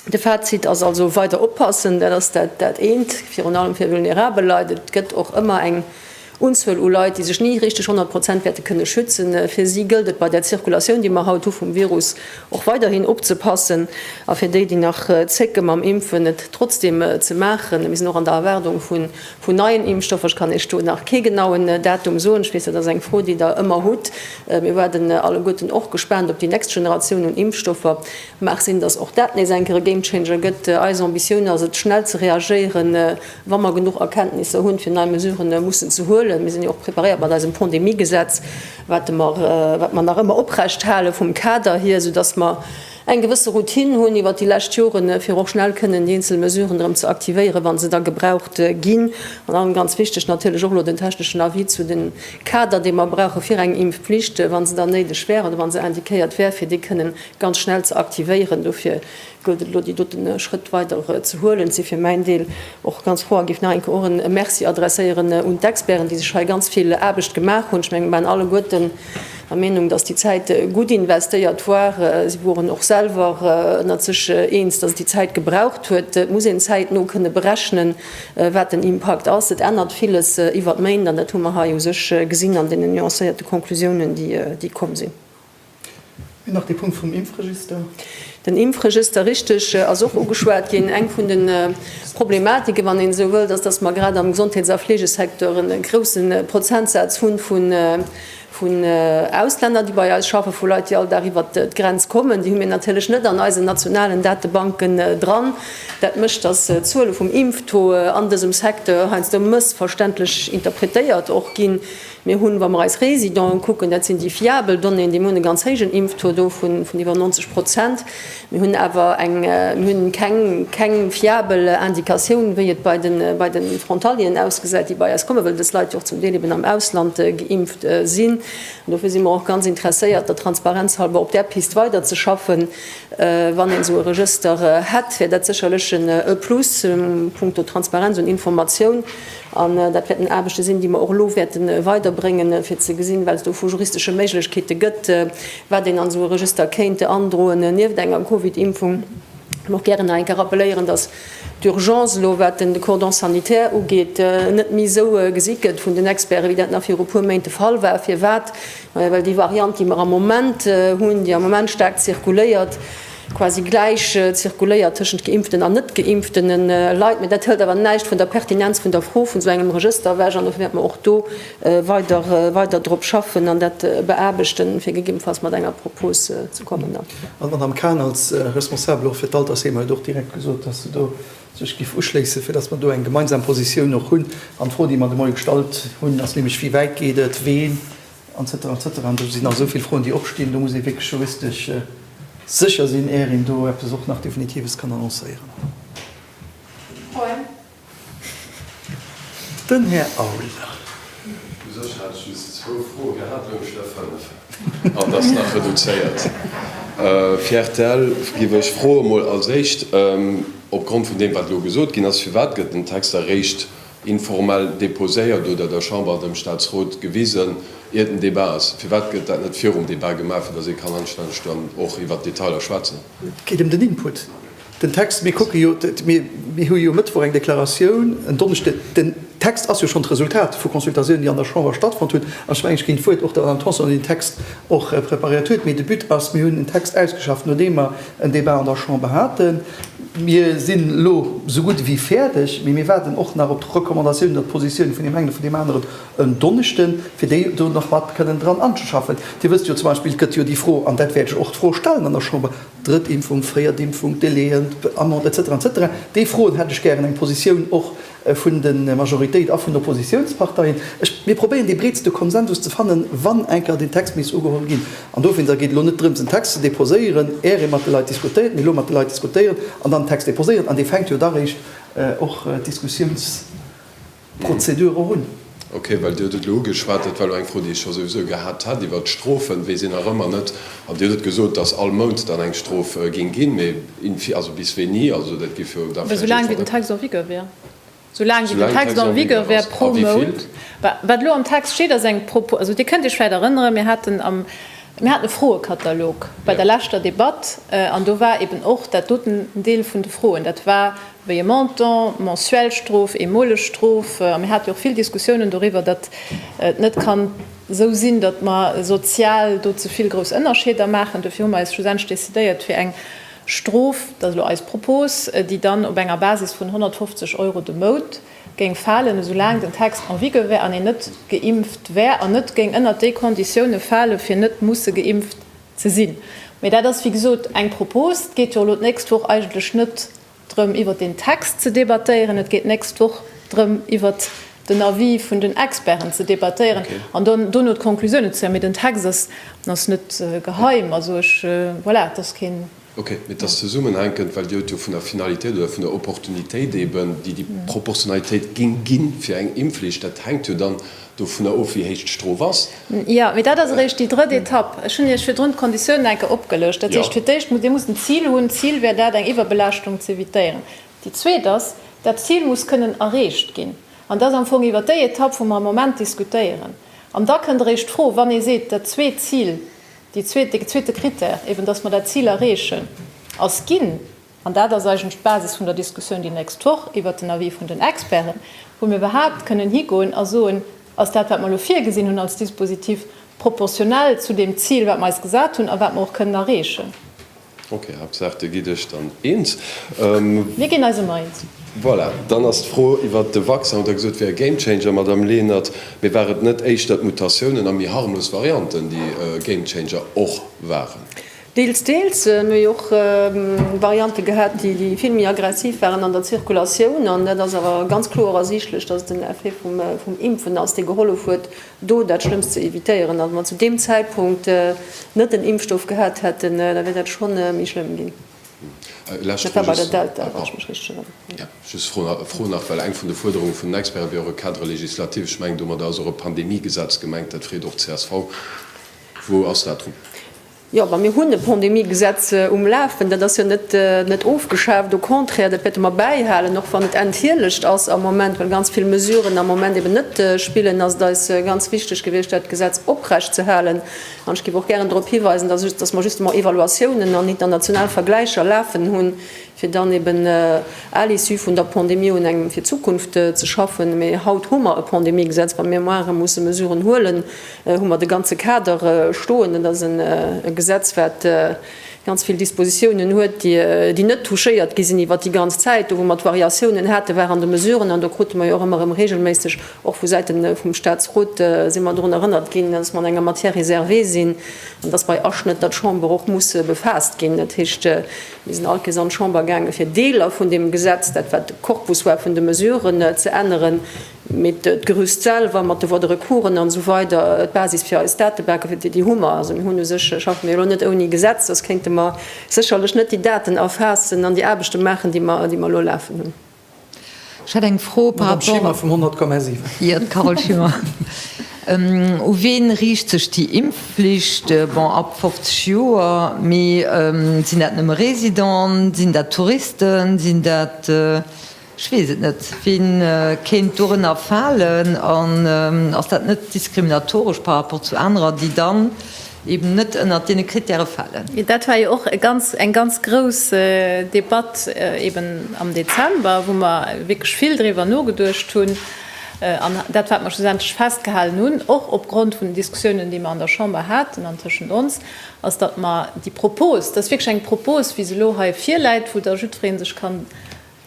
De Fazit ass also, weider oppassen, dat ass dat eent, virun allem fir vulnerabel Leit. Et gëtt och ëmmer eng Unzuel u Leit, déi sech ni richteg 100 Prozent wäerte kënne schützen. Fir si gëllt et, bei där Zirkulatioun, déi mer haut hu vum Virus, och weiderhin opzepassen. A fir déi, déi nach zécke mam Impfen, et trotzdeem ze maachen. Mir sinn och an der Erwaardung vun neien Impfstoffer. Ech kann Iech do nach kee genauen Datum soen. Ech weess, dat ass eng Fro, déi Der ëmmer hutt. Mir waarden alleguerten och gespaant op déi nächst Generatioun un Impfstoffer. Mag sinn, dass och dat nees eng Kéier e Gamechanger gëtt. Eis Ambitioun ass et, schnell ze reagéieren, wa mer genuch Erkenntnisser hunn, fir nei Mesuren mussen ze huelen. Mir sinn jo och preparéiert mat eisem Pandemiegesetz, wat mer nach ëmmer oprecht halen, vum Kader hier, sou dass mer eng gewësse Routine hunn iwwert déi lescht Joren, fir och schnell kënnen déi eenzel Mesuren erëm ze aktivéieren, wa se da gebraucht ginn. An allem ganz wichteg natierlech och elo den techneschen Avis zu de Kader, dee mer brauche fir eng Impfpflicht, wa se dann néideg wär oder wa se indiquéiert wär, fir déi kënnen ganz schnell ze aktivéieren. Dofir gëllt et elo déi doten Schrëtt weider ze huelen. Et si fir mäin Deel och ganz froh a géif nach eng Kéier och en e Merci adresséieren un d'Experten, déi sech hei ganz vill Aarbecht gemaach hunn. Ech mengen, mir waren alleguerten der Meenung, dass déi Zäit gutt investéiert war. Si woren och selwer ënnert sech eens, dass et déi Zäit gebraucht huet. Et muss een zäitno kënne berechnen, wat den Impakt ass. Et ännert villes iwwer d'Méint an dat hu mer hei u sech gesinn an deenen nuancéierte Konklusiounen, déi komm sinn. Nach dee Punkt vum Impfregister. Den Impfregister, richteg, ass och ugeschwat ginn. Eng vun de Problematiken, wann een esou wëllt, ass, dass mer grad am Gesondheets a Fleegesecteur e grouse Prozentsaz hu vun Auslänner, déi bei eis schaffen, vu Leit, déi all Dag iwwert d'Grenz kommen. Déi hu mir natierlech net an eisen nationalen Datebanken dran. Dat mécht, dass d'Zuele vum Impftaux an dësem Secteur heiansdo mëssverständlech interpretéiert och ginn. Mir hunn, wa mer eis Résidenten ukucken, dat sinn déi fiabel Donnéeën, déi mir hunn, e ganz héijen Impftaux do vun iwwer 90 Prozent. Mir hunn awer hunn keng fiabel Indikatioun, wéi et bei de Frontalieren ausgesäit, déi bei eis kommen, well dës Leit jo och zum Deel eben am Ausland geimpft sinn. An dofir si mer och ganz interesséiert, der Transparenz halber op där Pist weiderzeschaffen. Wann een esou e Regëster hätt, wär dat sécherlech e Plus punkto Transparenz un Informatioun. An dat wäerten Aarbechte sinn, déi mer och elo wäerte weiderbréngen, fir ze gesinn, wat et do vu juristesche Méiglechkeete gëtt, wat een an esou e Regëster kéint androen, nieft enger Covid-Impfung. Ech wëll och gären nach eng Kéier rappelléieren, dass d'Urgence elo, wat den Cordon sanitaire ugeet, net méi esou gesi gëtt vun den Experten, wéi dat nach viru e puer Méint de Fall war. Firwat? Well déi Variant, déi mer am Moment hunn, déi am Moment staark zirkuléiert, quasi gläich zirkuléiert tëschent Geimpften an net-geimpften Leit, mä dat hëlt awer näischt vun der Pertinenz vun der Fro vun esou engem Regëster ewech. An dofir wäerte mer och do weider, weider drop schaffen an dat beaarbechten, fir gegebenfalls mat enger Propos ze kommen dann. An d'Madame Kahn als Responsabel och fir d'Altersheemer huet och direkt gesot, dass se do sech géif uschléissen, fir dass mer do eng gemeinsam Positioun och hunn. An d'Fro, déi mer de Moie gestallt hunn, ass nämlech, Wéi wäit geet et? Ween Etc, etc. An do sinn nach esou vill Froen, déi opstinn. Do muss ee wierklech juristesch sécher sinn, éier een do eppes och nach Definitives kann annoncéieren. Froen? Den Här Auer. U sech hat ech just zwou Froen. Mir haten uewen schonn der fënnef. An ass nach reduzéiert. Fir rtl géif ech froen, emol als Éischt, opgrond vun deem, wat elo gesot ginn ass, firwat gëtt den Text eréischt informell déposéiert oder der Chamber, dem Statsrot gewisen, iert den Débat ass. Firwat gëtt dat net virum Débat gemaach, fir dass ee kann anstänneg dann och iwwert d'Detailer schwätzen? Et geet ëm den Input. Den Text, mir kucke jo, mir hu jo e Mëttwoch eng Deklaratioun, en Donneschde, den Text ass jo schonn d'Resultat vu Consultatiounen, déi an der Chamber stattfonnt hunn. An ech mengen, ech ginn d'Wuert och der Madame Tanson, déi den Text och preparéiert huet. Mee de But ass, mir hunn en Text ausgeschafft, nodeem mer en Débat an der Chamber haten. Mir sinn elo esou gutt ewéi fäerdeg, mee mir waarden och nach op d'Recommandatiounen oder d'Positioune vun deem engen a vun deem aneren en Donneschden, fir déi do nach mat kënnen dran anzeschaffen. Dir wësst jo zum Beispill, et gëtt jo déi Fro, an dat wäert ech och d'Fro stellen an der Chamber, Drëtt Impfung, fréiert Impfung, Délai, Amende, et cetera, et cetera. Déi Froen hätt ech gären eng Positioun och vun der Majoritéit a vun den Oppositiounsparteien. Ech, mir probéieren dee breetste Konsensus ze fannen, wann eng Kéier deen Text misst ugeholl ginn. An dowéinst geet elo net drëms, en Text ze deposéieren, är ee mat de Leit diskutéiert, mee elo mat de Leit diskutéieren an dann en Text deposéieren, an dee fänkt jo da réischt och d'Diskussiounsprozedur och un. Ok, well Dir hutt et elo ugeschwat, dat war elo eng Fro, déi ech scho souwisou gehat hat iwwert d'Strofen, wéi si nach ëmmer net, an Dir hutt et gesot, datt all Mount dann eng Strof géing ginn, mee in fi-, also bis wéini, also dat géif jo da vläicht jiddfer Mount. Soulaang wéi den Text en vigueur wär. Soulaang wéi den Text en vigueur wär pro Mount. Wat elo am Text steet ass eng Propo-, also Dir kënnt Iech vläicht erënneren, mir haten am, mir haten e Froekatalog bei der leschter Debatt an do war eeben och dat doten en Deel vun de Froen, dat war, wéi e Montant, mensuell Strof, eemoleg Strof, a mir hate jo och vill Diskussiounen doriwwer, datt et net kann esou sinn, datt mer sozial do ze vill grouss Ënnerscheeder maachen. Duerfir hu mer eis schlussendlech decidéiert fir eng Strof, dat ass elo eis Propos, déi dann op enger Basis vun 150 Euro de Mount géing falen, esou laang den Text en vigueur wär an een net geimpft wär, an net géing ënnert déi Konditioune fale fir net musse geimpft Ze sinn. Mee dat ass, wéi gesot, eng Propos. Et geet jo elo d'nächst Woch eigentlech net drëm, iwwert deen Text ze debattéieren. Et geet d'nächst Woch drëm, iwwert den Avis vun den Experten ze debattéieren an dann dono d'Conclusioune ze zéien. Mee den Text ass net geheim. Also ech, voilà, et ass keen Ok, mee et ass zesummenhänkend, well Dir hutt jo vun der Finalitéit oder vun der Opportunitéit eeben, déi déi Proportionalitéit géing ginn, fir eng Impfflicht. Dat hänkt jo dann dovunner of, wéi héich d'Strof ass. Jo, mee dat ass eréischt déi drëtt Etapp. Ech hunn Iech virdrun d'Konditiounen eng Kéier opgelëscht. Dat heescht, fir d'éischt muss Dir musst en Zil hunn. D'Zil wär dat, eng Iwwerbelaaschtung ze evitéieren. Déi zweet ass, dat Zil muss kënnen erreecht ginn. An et ass am Fong iwwer déi Etapp, wou mer am Moment diskutéieren. An da kënnt eréischt d'Fro, wann ee seet, dat zweet Zil, Dee zweete Krittär, eben dass mer dat Zil erreechen, ass ginn, an dat ass eigentlech d'Basis vun der Diskussioun déi nächst Woch iwwert den Avis vun den Experten, wou mir iwwerhaupt kënnen higoen a soen, Ass dat, wat mer elo virgesinn hunn als Dispositif, proportionell zu deem Zil, wat mer eis gesat hunn a wat mer och kënnen erreechen? Ok, Haaptsaach dir gitt iech dann eens. Mir ginn eis ëmmer eens. Voilà, dann ass d'Fro iwwert de Vaccin. Hutt der gesot, et wär e Gamechanger, Madamm Lenert, mee war et net éischter d'Mutatiounen a méi harmlos Varianten, déi e Gamechanger och waren? Deels, deels. Mir hu och Variante gehat, déi vill méi aggressiv waren an der Zirkulatioun. An dat ass awer ganz kloer ersiichtlech, dass et den Effet vum Impfen ass, dee gehollef huet, do dat Schlëmmst ze evitéieren, a wa mer zu deem Zäitpunkt net den Impfstoff gehat hätten, da wier dat schonn méi schlëmm ginn. Dat war bei der Delta, wa ech mech richteg erënneren. Jo, just Fro nach, well eng vun de Fuerderunge vun den Experten wier och e Cadre législatif. Ech mengen domadder ass och e Pandemiegesetz gemengt, dat freet och d'CSV. Wou ass dat drun? Jo, ma mir hunn e Pandemiegesetz um Lafen. Dat ass jo net ofgeschaaft, au contraire, dat wäerte mer bäihalen, och wann et enthielegt ass am Moment, well ganz vill Mesuren am Moment eeben net spillen, ass et eis ganz wichteg gewiescht, dat Gesetz oprecht ze halen. An ech géif och gären drop hiweisen, dass mer justement Evaluatiounen an international Vergläicher lafen hunn, fir dann eben à l'issue vun der Pandemie un engem fir d'Zukunft ze schaffen. Mee haut hu mer e Pandemiegesetz, wa mir muere musse Mesuren huelen, hu mer de ganze Kader stoen. Et ass e Gesetz, wat ganz vill Dispositiounen huet, déi net touchéiert gi sinn iwwert déi ganz Zäit. Do, wou mer d'Variatiounen haten, war an de Mesuren. An do krute mer jo och ëmmer erëm reegelméisseg, och vu Säite vum Statsrot, si mer drun erënnert ginn, dass mer an enger Matière réservée sinn an dass bei Aschnëtter d'Chamber och muss befaasst ginn. Dat heescht, Mir sinn all Kees an d'Chamber gaangen, fir Deeler vun deem Gesetz, dat wat de Corpus war vun de Mesuren, ze änneren, mee d'Gerüst selwer mat de Voies de recours'en an esou weider, d'Basis fir eis Datebanken, fir déi, déi hu mer. Also mir hunn u sech, schaffe mir jo elo net ouni Gesetz, soss kéinte mer sécherlech net déi Daten erfaassen an déi Aarbechte maachen, déi mer, déi mer elo lafen hunn. Ech hätt eng Fro par rapport. Madame Schimmer vum 100,7. Jo, d'Carole Schimmer. U wien riicht sech déi Impfflicht? Bon, ab 50 Joer, mee sinn dat nëmme Residenten, sinn dat Touristen, sinn dat, ech weess et net, wien kéint dorënner falen? An ass dat net diskriminatoresch par rapport zu anerer, déi dann eben net ënnert deene Krittäre falen. Dat war jo och e ganz, eng ganz grouss Debatt eben am Dezember, wou mer wierklech vill driwwer nogeduecht hunn an dat, wat mer schlussendlech festgehalen hunn, och opgrond vun den Diskussiounen, déi mer an der Chamber haten an tëschent ons, ass, datt mer déi Propos, dat ass wierklech eng Propos, wéi se elo hei virläit, wou da jiddweree sech kann,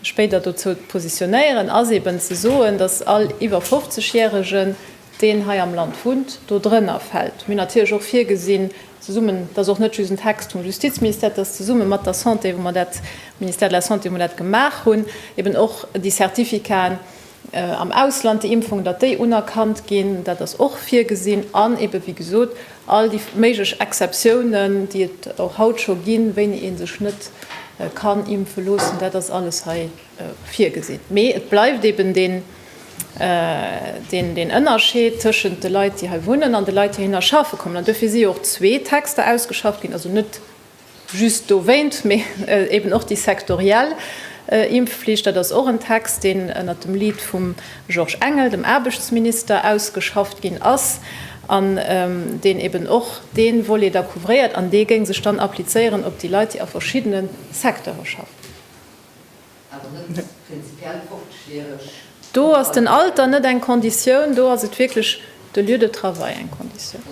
spéider dozou positionéieren, ass eben ze soen, dass all iwwer 50 Järegen, deen hei am Land wunnt, do drënner fält. Mir hunn natierlech och virgesinn, zesummen, dat ass och net just en Text vum Justizministère, dass zesumme mat der Santé, wou mer dat, Ministère de la Santé, wou mer dat gemaach hunn, eben och déi Certificaten, am Ausland, déi Impfungen, datt déi unerkannt ginn, dat ass och virgesinn, an ebe wéi gesot all déi méiglech Exceptiounen, déi et och haut scho ginn, wéini ee sech net kann impfe loossen, dat ass alles hei virgesinn. Mee et bleift eben deen Ënnerscheed tëschent de Leit, déi hei wunnen, an de Leit, déi heihinner schaffe kommen, an duerfir si jo och zwee Texter ausgeschafft ginn, also net, Just dowéint, mee eben och déi sektoriell Impfflicht, dat ass och en Text, deen ënnert dem Lead vum Georges Engel, dem Aarbechtsminister, ausgeschafft ginn ass an deen eben och dee Volet da couvréiert. An dee géing sech dann applizéieren op déi Leit, déi a verschiddene Secteure schaffen. Do ass den Alter net eng Konditioun, do ass et wierklech de Lieu de travail eng Konditioun.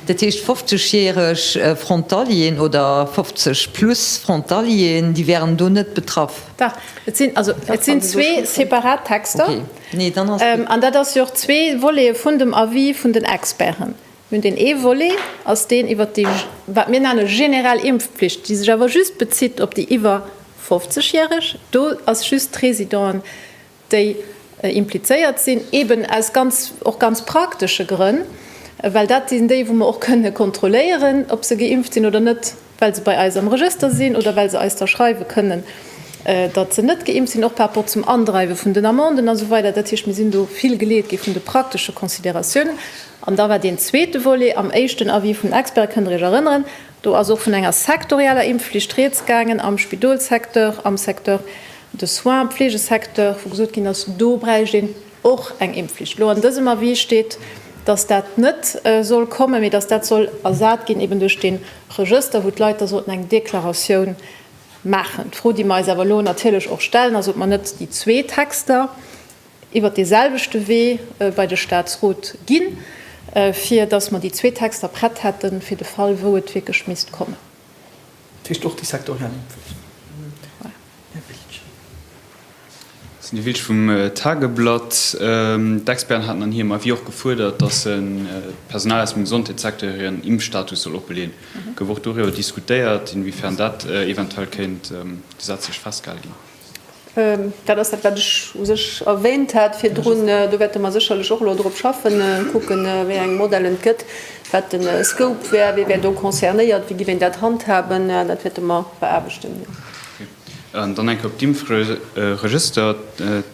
Dat heescht, 50 järeg Frontalieren oder 50 plus Frontalieren, déi wären do net betraff? Dach, et sinn, also et sinn zwee separat Texter an dat ass jo och zwee Voletë vun dem Avis vun den Experten. Mir hunn deen ee Volet, ass deen iwwert déi, wat mir nenne generell Impfpflicht, déi sech awer just bezitt op déi iwwer 50 Järeg. Do ass just d'Résidenten, déi implizéiert sinn, eben aus ganz, och ganz praktesche Grënn, well dat sinn déi, wou mer och kënne kontrolléieren, ob se geimpft sinn oder net. well se bei eis am Regëster sinn oder well se eis da schreiwe kënnen, datt se net geimpft sinn, och par rapport zum Andreiwe vun den Amenden a sou weider. Dat heescht, mir sinn do vill geleet gi vun de praktesche Consideratiounen. An da war deen zweete Volet am éischten Avis vun Experte, kënnt Der Iech erënneren, do ass och vun enger sektorieller Impfflicht rieds gaangen am Spidolssecteur, am Secteur de soins, Pflegesecteur, wou gesot ginn ass, do bräicht een, Och eng Impfflicht. Elo an dësem Avis steet, dass dat net soll kommen, mee dass dat soll ersat ginn eben duerch dee Regëster, wou d'Leit da sollten eng Deklaratioun maachen. D'Fro, déi mer eis awer elo natierlech och stellen, ass, ob mer net déi zwee Texter iwwert deeselwechte Wee bei de Statsrot ginn, fir dass mer déi zwee Texter prett hätten, fir de Fall, wou et wierklech misst kommen. Dat heescht och déi sektoriell Impfflicht? Dat sinn déi Villcher vum Tageblatt. D'Experten haten an hirem Avis och gefuerdert, datt d'Personal aus dem Gesondheetssecteur hiren Impfstatus soll oppeleeën. Gouf och doriwwer diskutéiert, inwiefern dat eventuell kéint gesetzlech festgehale ginn? Dat ass dat, wat ech u sech erwähnt hat virdrun. Do wäerte mer sécherlech och elo drop schaffen, kucken, wéi eng Modellen et gëtt, wat de Scope wär, wie wär do concernéiert, wéi géif een dat handhaben. Dat wäerte mer beaarbechten. Dann eng Kéier op d'Impfregëster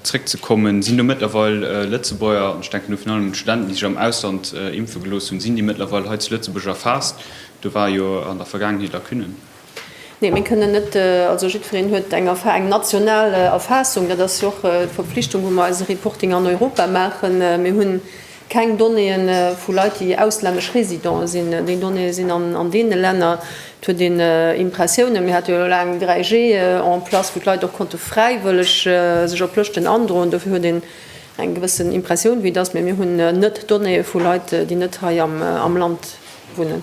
zréckzekommen, Sinn do mëttlerweil Lëtzebuerger, an ech denken do virun allem un d'Studenten, déi sech am Ausland impfe gelooss hunn, sinn déi mëttlerweil hei zu Lëtzebuerg erfaasst? Do war jo an der Vergaangenheet Lacunnen. Nee, mir kënnen net, also jiddwereen huet eng Erfa-, eng national Erfaassung. Dat ass jo och d'Verpflichtung, wou mer eise Reporting an Europa maachen. Mir hunn Keng Donnéeë vu Leit, déi auslännesch Résidente sinn. Déi Donnéeë sinn an deene Länner. Et huet een Impressiounen, mir hate jo elo laang 3G en place, wou d'Leit och konnte fräiwëlleg sech op Lëschten androen. Dofir huet een eng gewëssen Impressioun, wéi et ass. Mee mir hunn net Donnéeë vu Leit, déi net hei am Land wunnen.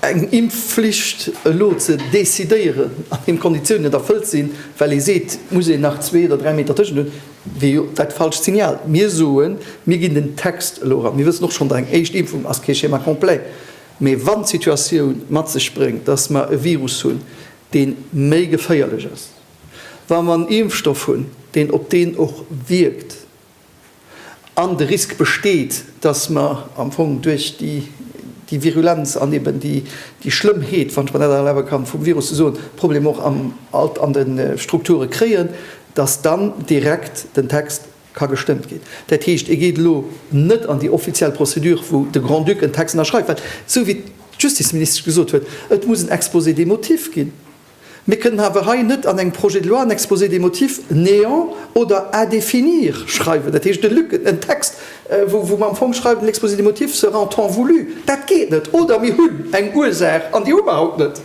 Eng Impfflicht elo ze decidéieren, an deem d'Konditiounen net erfëllt sinn, well ee seet, et muss een nach zwee oder dräi Meter tëschent hunn, wier jo dat falscht Signal. Mir soen, mir ginn den Text elo eran. Mir wëssen och schonn, datt eng éischt Impfung ass kee Schéma complet. Mee wann d'Situatioun mat sech bréngt, datt mer e Virus hunn, dee méi geféierlech ass, wa mer en Impfstoff hunn, deen op deen och wierkt, an de Risk besteet, dass mer am Fong duerch déi Virulenz an eben déi Schlëmmheet, wann ech mer dat erlabe kann, vum Virus ze soen, Problemer och an de Strukture kréien, dass dann direkt den Text ka gestëmmt ginn. Dat heescht, e geet elo net an déi offiziell Prozedur, wou de Grand-Duc en Text ënnerschreift, well, esou wéi d'Justizministesch gesot huet, et muss en Exposé des motifs ginn. Mir kënnen awer hei net an engem Projet de loi en Exposé des motifs néant oder à définir schreiwen, dat heescht e Lücken, en Text, wou mer am Fong schreiwen, L'exposé des motifs sera en temps voulu. Dat geet net! Oder mir hunn eng Ursaach, an déi hu mer haut net.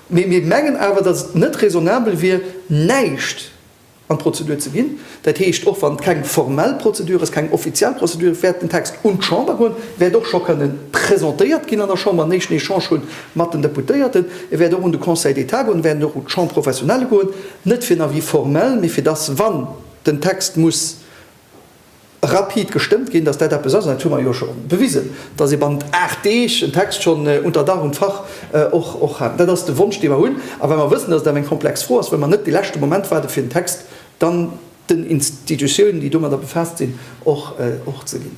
Mee mir mengen awer, datt et net raisonnabel wier, näischt an d'Prozedur ze ginn. Dat heescht, och wann et keng formell Prozedur ass, keng offiziell Prozedur, ech wäert den Text un d'Chamber goen, wäert och scho kënnen presentéiert ginn an der Chamber, en éischten Echange hunn mat den Deputéierten. E wäert och un de Conseil d'État goen, e wäert och un d'Chambre professionelle goen, net fir en Avis formell, mee fir dass, wann den Text muss, rapid gestëmmt ginn, dass dat eppes ass, an dat hu mer jo scho bewisen, dass ee bannent aacht Deeg en Text schonn unter Dach und Fach och hat. Dat ass de Wonsch, dee mer hunn. A well mer wëssen, dass et awer eng komplex Fro ass, wëlle mer net de leschte Moment waarden, fir den Text dann den Institutiounen, déi domadder befaasst sinn, och ze ginn.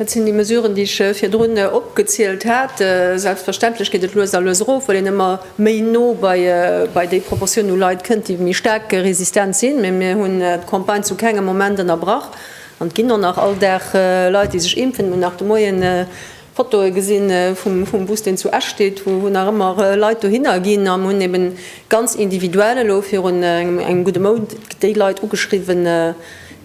Dat sinn déi Mesuren, déi ech virdrun opgezielt hat. Selbstverständlech geet et lues a lues erof, well een ëmmer méi no bei déi Proportioun u Leit kënnt, déi méi staark resistent sinn. Mee mir hunn d'Campagne zu kengem Moment ënnerbrach an et ginn och nach all Dag Leit, déi sech impfen. Hunn nach de Moien Fotoe gesi vum Bus, deen zu Esch steet, wou nach ëmmer Leit dohinner ginn. A mir hunn eben ganz individuell elo virun engem gudde Mount déi Leit ugeschriwwen,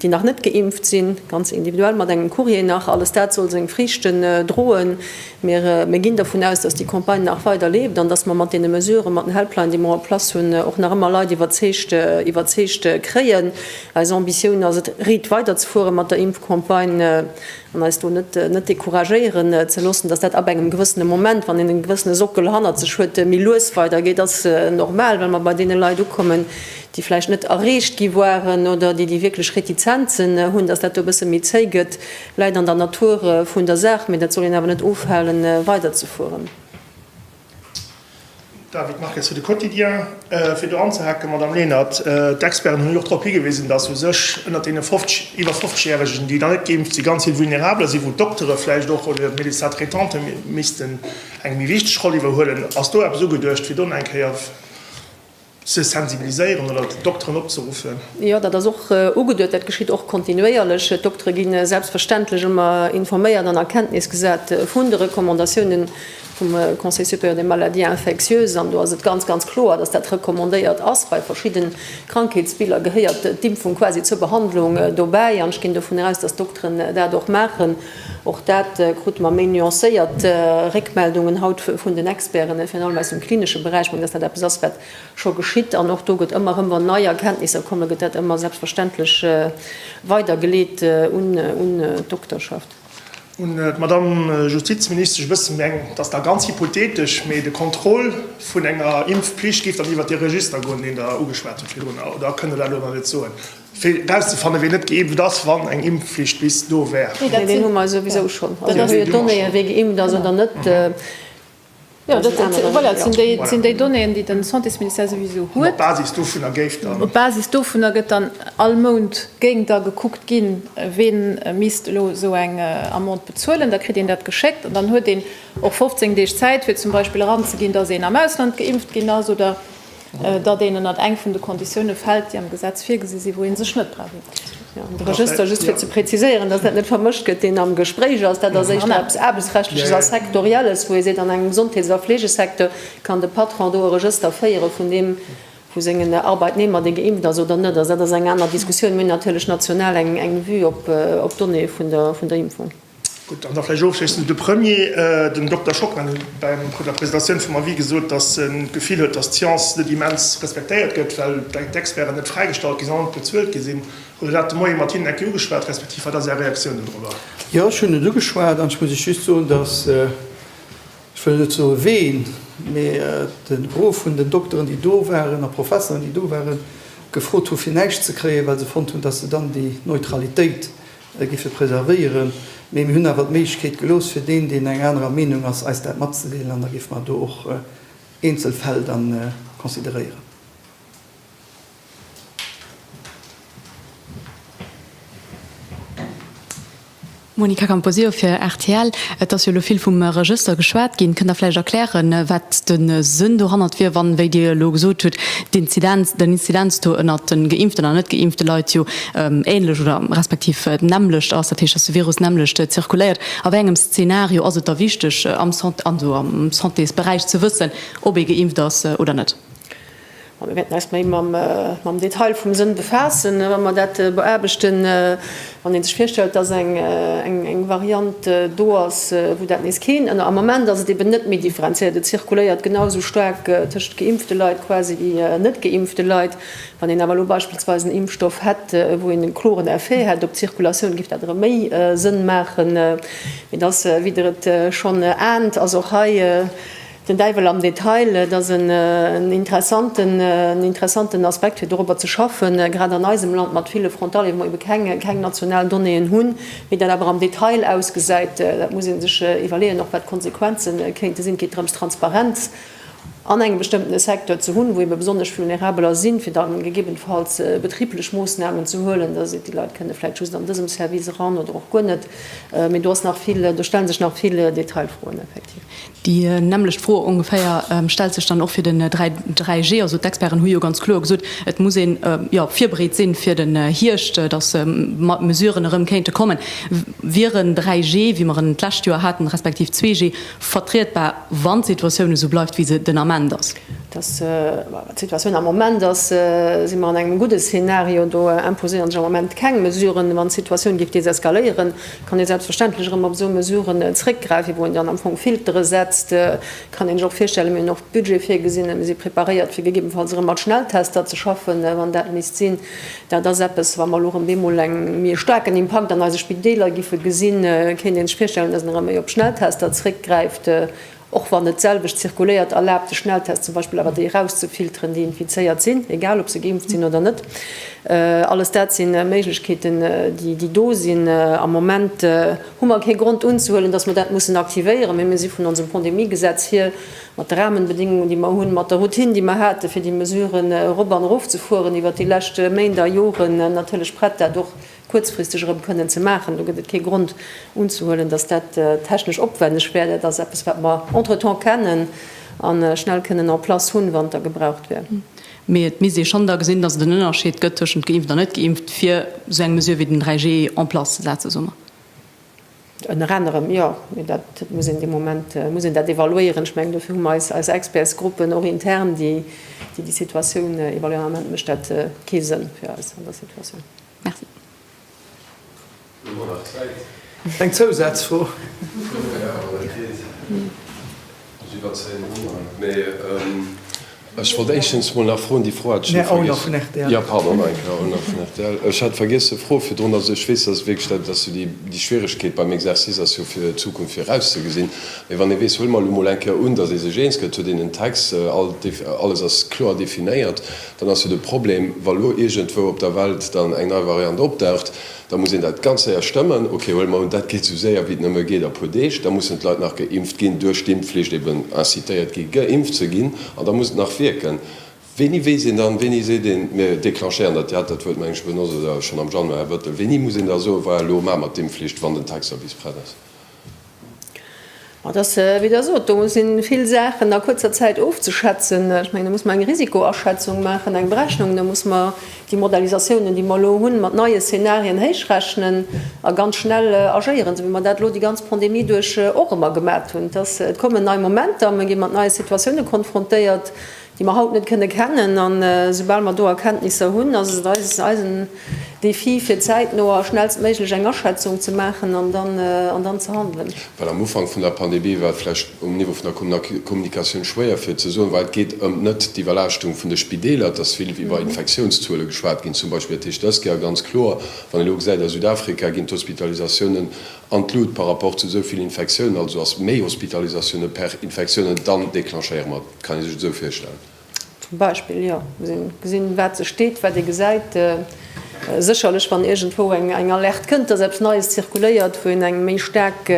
déi nach net geimpft sinn, ganz individuell mat engem Courrier nach, alles dat soll seng Friichten droen. Mir ginn dervun aus, dass déi Campagne nach weider leeft an dass mer mat deene Mesuren, mat den Helpline, déi mer en place hunn, och nach ëmmer Leit iwwerzeegt, iwwerzeegt kréien. Eis Ambitioun ass et, red, weiderzefuere mat der Impfcampagne an eis do net, net decouragéieren ze loossen. Dass dat ab engem gewëssene Moment, wann een e gewëssene Sockel hannert sech huet, méi lues weidergeet, ass normal, well mer bei deene Leit ukommen, déi vläicht net erreecht gi waren oder déi déi wierklech Retizenzen hunn, datt dat do e bësse méi zéi gëtt, läit an der Natur vun der Saach, mee dat soll een awer net ofhale weiderzefueren. David Marques fir de Quotidien. Fir do anzehake, Madamm Lenert, d'Experten hunn jo och drop higewisen, datt u sech ënnert deene 50, iwwer 50 Järegen, déi nach net geimpft sinn, ganz vill Vulnerabler sinn, wou d'Doktere vläicht och oder d'Médecins traitanten missten eng méi wichteg Roll iwwerhuelen. Ass do eppes ugeduecht, fir do nach eng Kéier. Ze sensibiliséieren oder d'Dokteren opzeruffen? Jo, dat ass och ugeduet. Dat geschitt och kontinuéierlech. D'Doktere gi selbstverständlech ëmmer informéiert an a Kenntnis gesat vun de Recommandatiounen vum Conseil supérieur des maladies infectieuses. An do ass et ganz, ganz kloer, dass dat recommandéiert ass. Bei verschidde Krankheetsbiller gehéiert d'Impfung quasi zur Behandlung dobäi. An ech ginn dovun aus, dass d'Dokteren dat och maachen. Och dat krute mer méi nuancéiert Réckmeldungen haut vun den Experten, virun allem aus dem klinesche Beräich. Ech mengen, dass dat eppes ass, wat scho geschitt. An och do gëtt ëmmer erëm, wann nei Erkenntnisser kommen, gëtt dat ëmmer selbstverständlech weidergeleet un d'Dokterschaft. Un d'Madamm Justizministesch, ech wësse meng, et ass da ganz hypothetesch, mee de Contrôle vun enger Impfpflicht géif dann iwwert dee Register goen, deen Der ugeschwat hutt virdrun, oder kënnt Der dat elo nach net soen? Fir erauszefannen, wien net geimpft ass, wann eng Impfflicht bis do wär. Mee dat hu mer souwisou schonn. Also do hu jo d'Donnéeë wee geimpft ass oder net. Jo, dat sinn déi Donnéeën, déi de Santésministère souwisou huet. Op Basis dovunner géif dann. Op Basis dovunner gëtt dann all Mount, géing da gekuckt ginn, wee misst elo esou eng Amende bezuelen. Da kritt een dat geschéckt an dann huet een och 15 Deeg Zäit, fir zum Beispill eranzeginn, dass een am Ausland geimpft ginn ass oder datt een ënnert eng vun de Konditioune fält, déi am Gesetz virgesi sinn, wou ee sech net brauch unzeschreiwen. De Regëster, just fir ze preziséieren, datt dat net vermëscht gëtt, deen am Gespréich ass, dat ass éischter eppes Aarbechtsrechtleches a Sektorielles, wou ee seet, an engem Gesondheets a Fleegesecteur kann de Patron do e Regëster féiere vun deem, vu sengen Arbeitnehmer, dee geimpft ass oder net ass. Dat ass eng aner Diskussioun. Mir hunn natierlech national eng Vue op d'Donnéeë vun der Impfung. Gutt, an da vläicht ofschléissend de Premier. Den Dokter Schock hat bei der Presentatioun vum Avis gesot, datt en d'Gefill huet, datt d'Science net immens respektéiert gëtt, well d'Experten net fräigestallt ginn, sondern net bezuelt gi sinn. Hutt Der dat de Moie mat hinnen eng Kéier ugeschwat, respektiv wat ass Är Reaktioun dodrober? Jo, ech hunn et ugeschwat. An ech muss Iech just soen, datt, ech wëll net soe ween, mee de Gros vun den Dokteren, déi do waren, a Professeren, déi do waren, gefrot hu fir näischt ze kréien, well se fonnt hunn, datt se dann déi Neutralitéit gi fir preservéieren, mee mir hunn awer d'Méiglechkeet gelooss fir deen, deen eng anerer Meenung ass, eis dat matzedeelen an da géife mer do och eenzel Fäll da consideréieren. Monica Camposeo fir rtl, Et ass jo elo vill vum Regëster geschwat ginn. Kënnt Der vläicht erklären, wat de Sënn dohannert wier, wann, wéi Dir elo gesot hutt, d'Inzidenz, den Inzidenz-Taux ënnert de geimpften an net geimpfte Leit jo Ähnlech oder respektiv d'nämmlecht ass, dat heescht, dass de Virus nämmlecht zirkuléiert. A wéi engem Szenario ass et da wichteg, am Santésberäich ze wëssen, ob ee geimpft ass oder net? Mir wäerten eis méi mam Detail vum Sënn befaassen, wa mer dat beaarbechten. Wann ee sech virstellt, dass eng Variant do ass, wou dat nees keen, am Ament ass et eben net méi differenziéiert, et zirkuléiert genau esou staark tëschent geimpfte Leit quasi wéi net geimpfte Leit, Wann een awer elo beispillsweis en Impfstoff hätt, wou een e kloren Effet hätt op d'Zirkulatioun, géif dat erëm méi Sënn maachen. Mee et ass, wéi Der et schonn aent, ass och hei den Däiwel am Detail. Et ass en interessanten Aspekt, fir dorobber ze schaffen, grad an eisem Land mat ville Frontalieren, wou mer ebe keng national Donnéeën hunn. Wéi dat awer am Detail ausgesäit, dat muss ee sech iwwerleeën, och wat d'Konsequenze kéinte sinn. Et geet drëms, Transparenz an engem bestëmmtene Secteur ze hunn, wou ebe besonnesch Vulnerabeler sinn, fir da gegebenfalls betriblech Moossnamen ze huelen, dass et déi Leit kënne vläicht just an dësem Service eran oder och guer net. Mee do ass nach vill, do stelle sech nach vill Detailfroen effektiv. Déi nämmlecht Fro ongeféier stellt sech dann och fir den 3G. Also d'Experten hu jo ganz kloer gesot, et muss ee jo virbereet sinn fir den Hierscht, dass mat Mesuren erëm kéinte kommen. Wier en 3G, wéi mer en d'lescht Joer haten, respektiv 2G vertrietbar? Wann d'Situatioun esou bleift, wéi se den Ament ass. Dass d'Situatioun am Moment ass, si mer an engem gudde Szenario. Do imposéieren sech am Moment keng Mesuren. Wann d'Situatioun géif deseskaléieren, kann ee selbstverständlech erëm op esou Mesuren zréckgräifen, wou een dann am Fong Filtere setzt. Kann een sech och virstellen. Mir hunn och Budget virgesinn, mir si preparéiert, fir gegebenfalls erëm mat Schnelltester ze schaffen, wann dat misst sinn. Dat ass eppes, wa mer elo erëm bemol e méi staarken Impakt an eise Spideeler giffe gesinn, kéint ee sech virstellen, dass een erëm méi op Schnelltester zréckgräift, och wann net d'selwecht zirkuléiert. Erlaabt de Schnelltest zum Beispill awer, déi erauszefilteren, déi infizéiert sinn, egal ob se geimpft sinn oder net? Alles dat si Méiglechkeeten, déi do sinn. Am Moment hu mer kee Grond unzehuelen, dass mer dat mussen aktivéieren, mee mir si vun onsem Pandemiegesetz hier Mat de Rahmenbedingungen, déi mer hunn, mat der Routine, déi mer haten, fir déi Mesuren erop an erofzefueren iwwert déi lescht Méint a Joren, natierlech prett, dat och kuerzfristeg erëm kënnen ze maachen. Do gëtt et kee Grond unzehuelen, dass dat technesch opwänneg wär. Dat ass eppes, wat mer entretemps kennen a schnell kënnen en place hunn, wann der gebraucht wär. Mee et misst ee schonn da gesinn, dass et en Ënnerscheed gëtt tëschent geimpft a net geimpft, fir esou eng Mesure wéi den 3G en place ze setzen, soe mer. Ënner anerem, jo. Mee dat muss een dee Moment muss een dat evaluéieren. Ech mengen, dofir hu mer eis eis Expertsgruppen och intern, déi déi Situatioun evaluéieren. Am Ament mécht dat kee Sënn fir eis an der Situatioun. Merci. Hu mer nach Zäit? Eng Zousazfro? Ech iwwerzéien och mol, mee ech wollt éischstens mol nach froen, déi Fro hat ech elo vergiess. Nä, Owner vun RTL. Jo, pardon, nach eng Kéier, Owner vun RTL. Ech hat vergiess ze froen virdrun, also ech weess, dass et wierklech dat ass, déi, déi Schwieregkeet beim Exercice ass jo fir d'Zukunft virauszegesinn. Mee wann ee weess, huele mer elo mol eng Kéier un, dass ee sech eens gëtt, huet een en Text, all, alles ass kloer definéiert, dann ass jo de Problem, wa lo iergendwou op der Welt dann eng nei Variant opdaucht, Da muss een dat ganz séier stëmmen. Ok, huele mer un, dat geet esou séier wéi et nëmme geet a puer Deeg. Da mussen d'Leit nach geimpft ginn, duerch d'Impfflicht eben incitéiert gi geimpft ze ginn an da muss et nach wierken. Wéini weess een dann, wéini seet een, mir declenchéieren dat? Dir hat dat Wuert meng ech benotzt, oder schonn am Januar, Här Bettel. Wéini muss een da soen, voilà, elo maache mer d'Impfflicht, wann den Tech-Service prett ass? Et ass, wéi Der sot, do si vill Saachen a kuerzer Zäit ofzeschätzen. Ech mengen, do muss mer eng Risikoaschätzung maachen, eng Berechnung. Da muss mer déi Modalisatiounen, déi mer elo hunn, mat neie Szenarien héichrechnen a ganz schnell agéieren, esou wéi mer dat elo déi ganz Pandemie duerch och ëmmer gemat hunn. Et kommen nei Momenter, mir gi mat neie Situatioune konfrontéiert. déi mer haut net kënne kennen, an esoubal mer do Erkenntnisser hunn, ass et eisen Défi fir zäitno a schnellstméiglech eng Aschätzung ze maachen an dann ze handelen. Well am Ufank vun der Pandemie war et vläicht um Niveau vun der Kommunikatioun schwéier fir ze soen, well et geet ëm net d'Iwwerlaaschtung vun de Spideeler, et ass vill iwwer Infektiounszuele geschwat ginn zum Beispill, dat heescht dës Kéier ganz kloer, wann ee elo gesäit a Südafrika ginn d'Hospitalisatiounen an d'Lut par rapport zu esou vill Infektiounen, also ass méi Hospitalisatiounen per Infektiounen, dann déclenchéiere mer. Kann ee sech et esou virstellen? Zum Beispill, jo. Gesinn, wat sech deet, wat ee gesäit. Sécherlech, wann iergendwou eng Alerte kënnt, dass eppes Neies zirkuléiert, wou een eng méi staark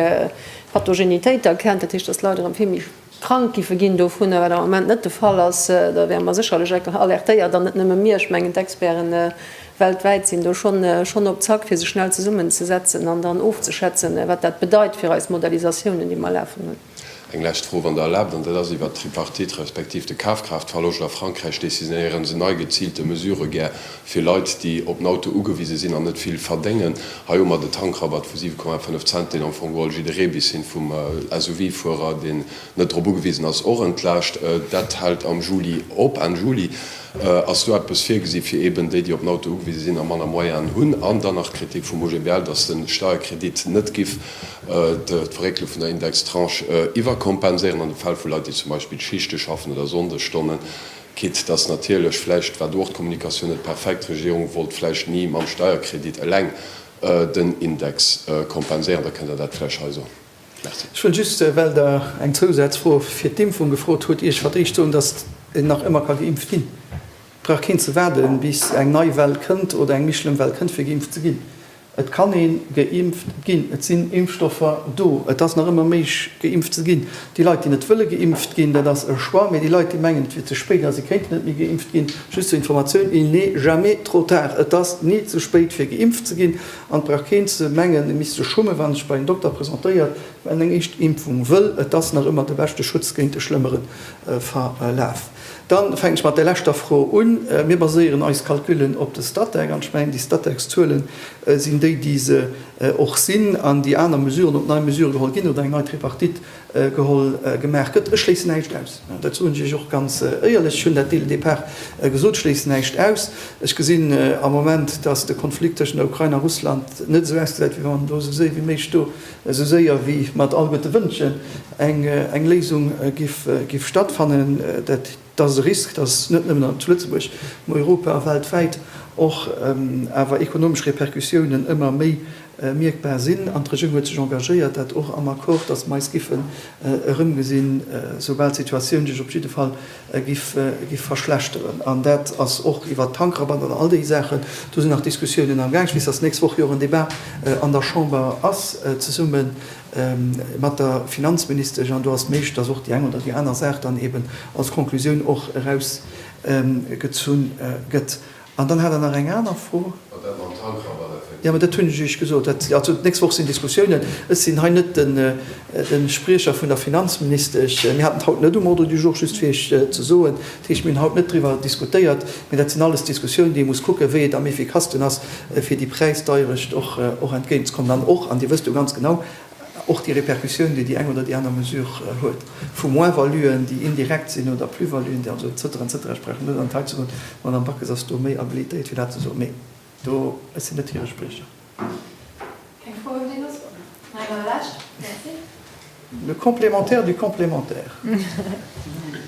Pathogenitéit erkennt, dat heescht, dass d'Leit erëm vill méi krank giffe ginn dovunner, wat am Moment net de Fall ass, da wäre mer sécherlech alertéiert. An net nëmme mir, ech mengen d'Experten weltwäit sinn do schonn op Zack, fir sech schnell zesummenzesetzen an dann ofzeschätzen, wat dat bedeit fir eis Modellisatiounen, déi mer lafen hunn. Eng lescht Fro, wann Der erlaabt, an dat ass iwwert d'Tripartite respektiv de Kafkraaftverloscht a Frankräich. Décisionéieren se nei geziilte Mesurë gär fir Leit, déi op den Auto ugewise sinn an net vill verdéngen? Hei hu mer de Tankrabatt vu 7,5 Cent, deen am Fong geholl jidderee bis hin vum SUV-Fuerer, deen net drop ugewisen ass, och entlaascht. Dat hält am Juli op, Enn Juli. Ass do eppes virgesi fir eeben déi, déi op den Auto ugewise sinn a manner Moyennen hunn? An dann nach d'Kritik vum OGBL, datt de Steierkredit net giff d'Verréckele vun der Indextranche iwwerkompenséieren an de Fäll vu Leit, déi zum Beispill Schichte schaffen oder Sonndesstonnen, quitte dass natierlech, vläicht war do och d'Kommunikatioun net perfekt, d'Regierung wollt vläicht ni mam Steierkredit eleng den Index kompenséieren. Da kënnt Der dat vläicht hei soen. Merci. Ech wëll just, well Der eng Zousazfro fir d'Impfung gefrot hutt, Iech fir d'éischt soen, dass een nach ëmmer ka geimpft ginn. Et brauch keen ze waarden, bis eng nei Well kënnt oder eng méi schlëmm Well kënnt, fir geimpft ze ginn. Et kann ee geimpft ginn. Et sinn Impfstoffer do. Et ass nach ëmmer méiglech, geimpft ze ginn. Déi Leit, déi net wëlle geimpft ginn, dat ass e Choix. Mee déi Leit, déi mengen, et wier ze spéit a se kéinten net méi geimpft ginn, just zur Informatioun, Il n'est jamais trop tard. Et ass ni ze spéit, fir geimpft ze ginn. An et brauch keen ze mengen, e misst sech schummen, wann en sech bei en Dokter presentéiert, well en eng éischt Impfung wëll. Et ass nach ëmmer de beschte Schutz géint e schlëmmere Verlaf. Dann fänken ech mat der leschter Fro un. Mir baséieren eis Calculen op de Statec, an ech mengen, déi Statec-Zuelen sinn déi, déi se och sinn, an déi aner Mesuren, ob nei Mesurë geholl ginn oder eng nei Tripartite geholl, gemaach gëtt. Ech schléissen näischt aus. Dat soen ech Iech och ganz éierlech. Ech hunn dat dès le départ gesot, ech schléissen näischt aus. Ech gesinn am Moment, dass de Konflikt tëschent der Ukrain a Russland net esou ausgesäit, wéi wann do esou séier wéi méiglech do esou séier wéi mat all gudde Wënschen, eng Léisung giff stattfannen. Dat ass e Risk, dass net nëmmen zu Lëtzebuerg, mä Europa a weltwäit och awer ekonomesch Repercussiounen ëmmer méi mierkbar sinn. An d'Regierung huet sech engagéiert, dat och am Accord, dass mer eis giffen erëmgesinn, soubal d'Situatioun sech op jidde Fall giff verschlechteren. An dat ass och iwwert d'Tankrabatten an all déi Saachen, do sinn nach Diskussiounen amgaang. Ech weess, dass d'nächst Woch jo och en Débat an der Chamber ass zesumme mat der Finanzministesch an do ass méiglech, dass och déi eng oder déi aner Saach dann eeben als Conclusioun och erausgezunn gëtt. An dann hat Der nach eng aner Fro. Mat dat mam Tankrabatt effektiv. Jo, mä dat hunn ech Iech gesot. Dat, also d'nächst Woch sinn Diskussiounen. Ech sinn hei net de Spriecher vun der Finanzministesch. Mir haten et haut net um Ordre du jour, just fir Iech ze soen. Dat heescht, mir hunn haut net driwwer diskutéiert. Mä dat sinn alles Diskussiounen, déi ee muss kucken, wéi et am efficacsten ass, fir déi Präisdeierecht och entgéintzekommen. An och, an Dir wësst jo ganz genau, och déi Répercussioun, déi déi eng oder déi aner Mesure huet, vu Moins-valuen, déi indirekt sinn, oder Plus-valuen, déi also et cetera, et cetera. Ech brauch net an d'Detail ze goen. D'Madamm Backes ass do méi habilitéiert, fir dat ze soen. Mee do, ech sinn net hire Spriecher. Keng Fro un d'Dénus? Nei Iwwerlescht. Merci. Le complémentaire du complémentaire.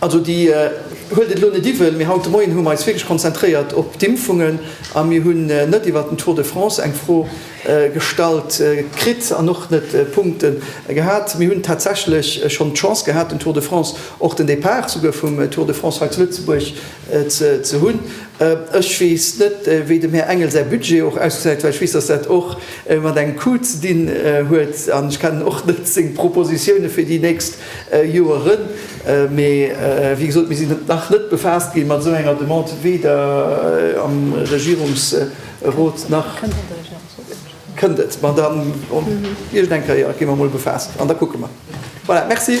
Also déi huelt et elo net iwwel, mee haut de Moien hu mer eis wierklech konzentréiert op d'Impfungen a mir hunn net iwwert den Tour de France eng Fro gestallt kritt an och net Punkte gehat. Mir hunn tatsächlech schonn d'Chance gehat, den Tour de France, och den Depart souguer vum Tour de France hei zu Lëtzebuerg ze hunn. Ech weess net, wéi dem Här Engel säi Budget och ausgesäit, well ech weess, dass dat och mat engem Coût ze dinn huet an ech kennen och net seng Propositione fir déi nächst Joer rën, mee wéi gesot, mir sinn nach net befaasst gi mat esou enger Demande, weder am Regierungsrot nach. Kënnt et am Regierungsrot net wahrscheinlech. Kënnt et, ma da iergend eng Kéier gi mer emol befaasst an da kucke mer. Voilà, merci.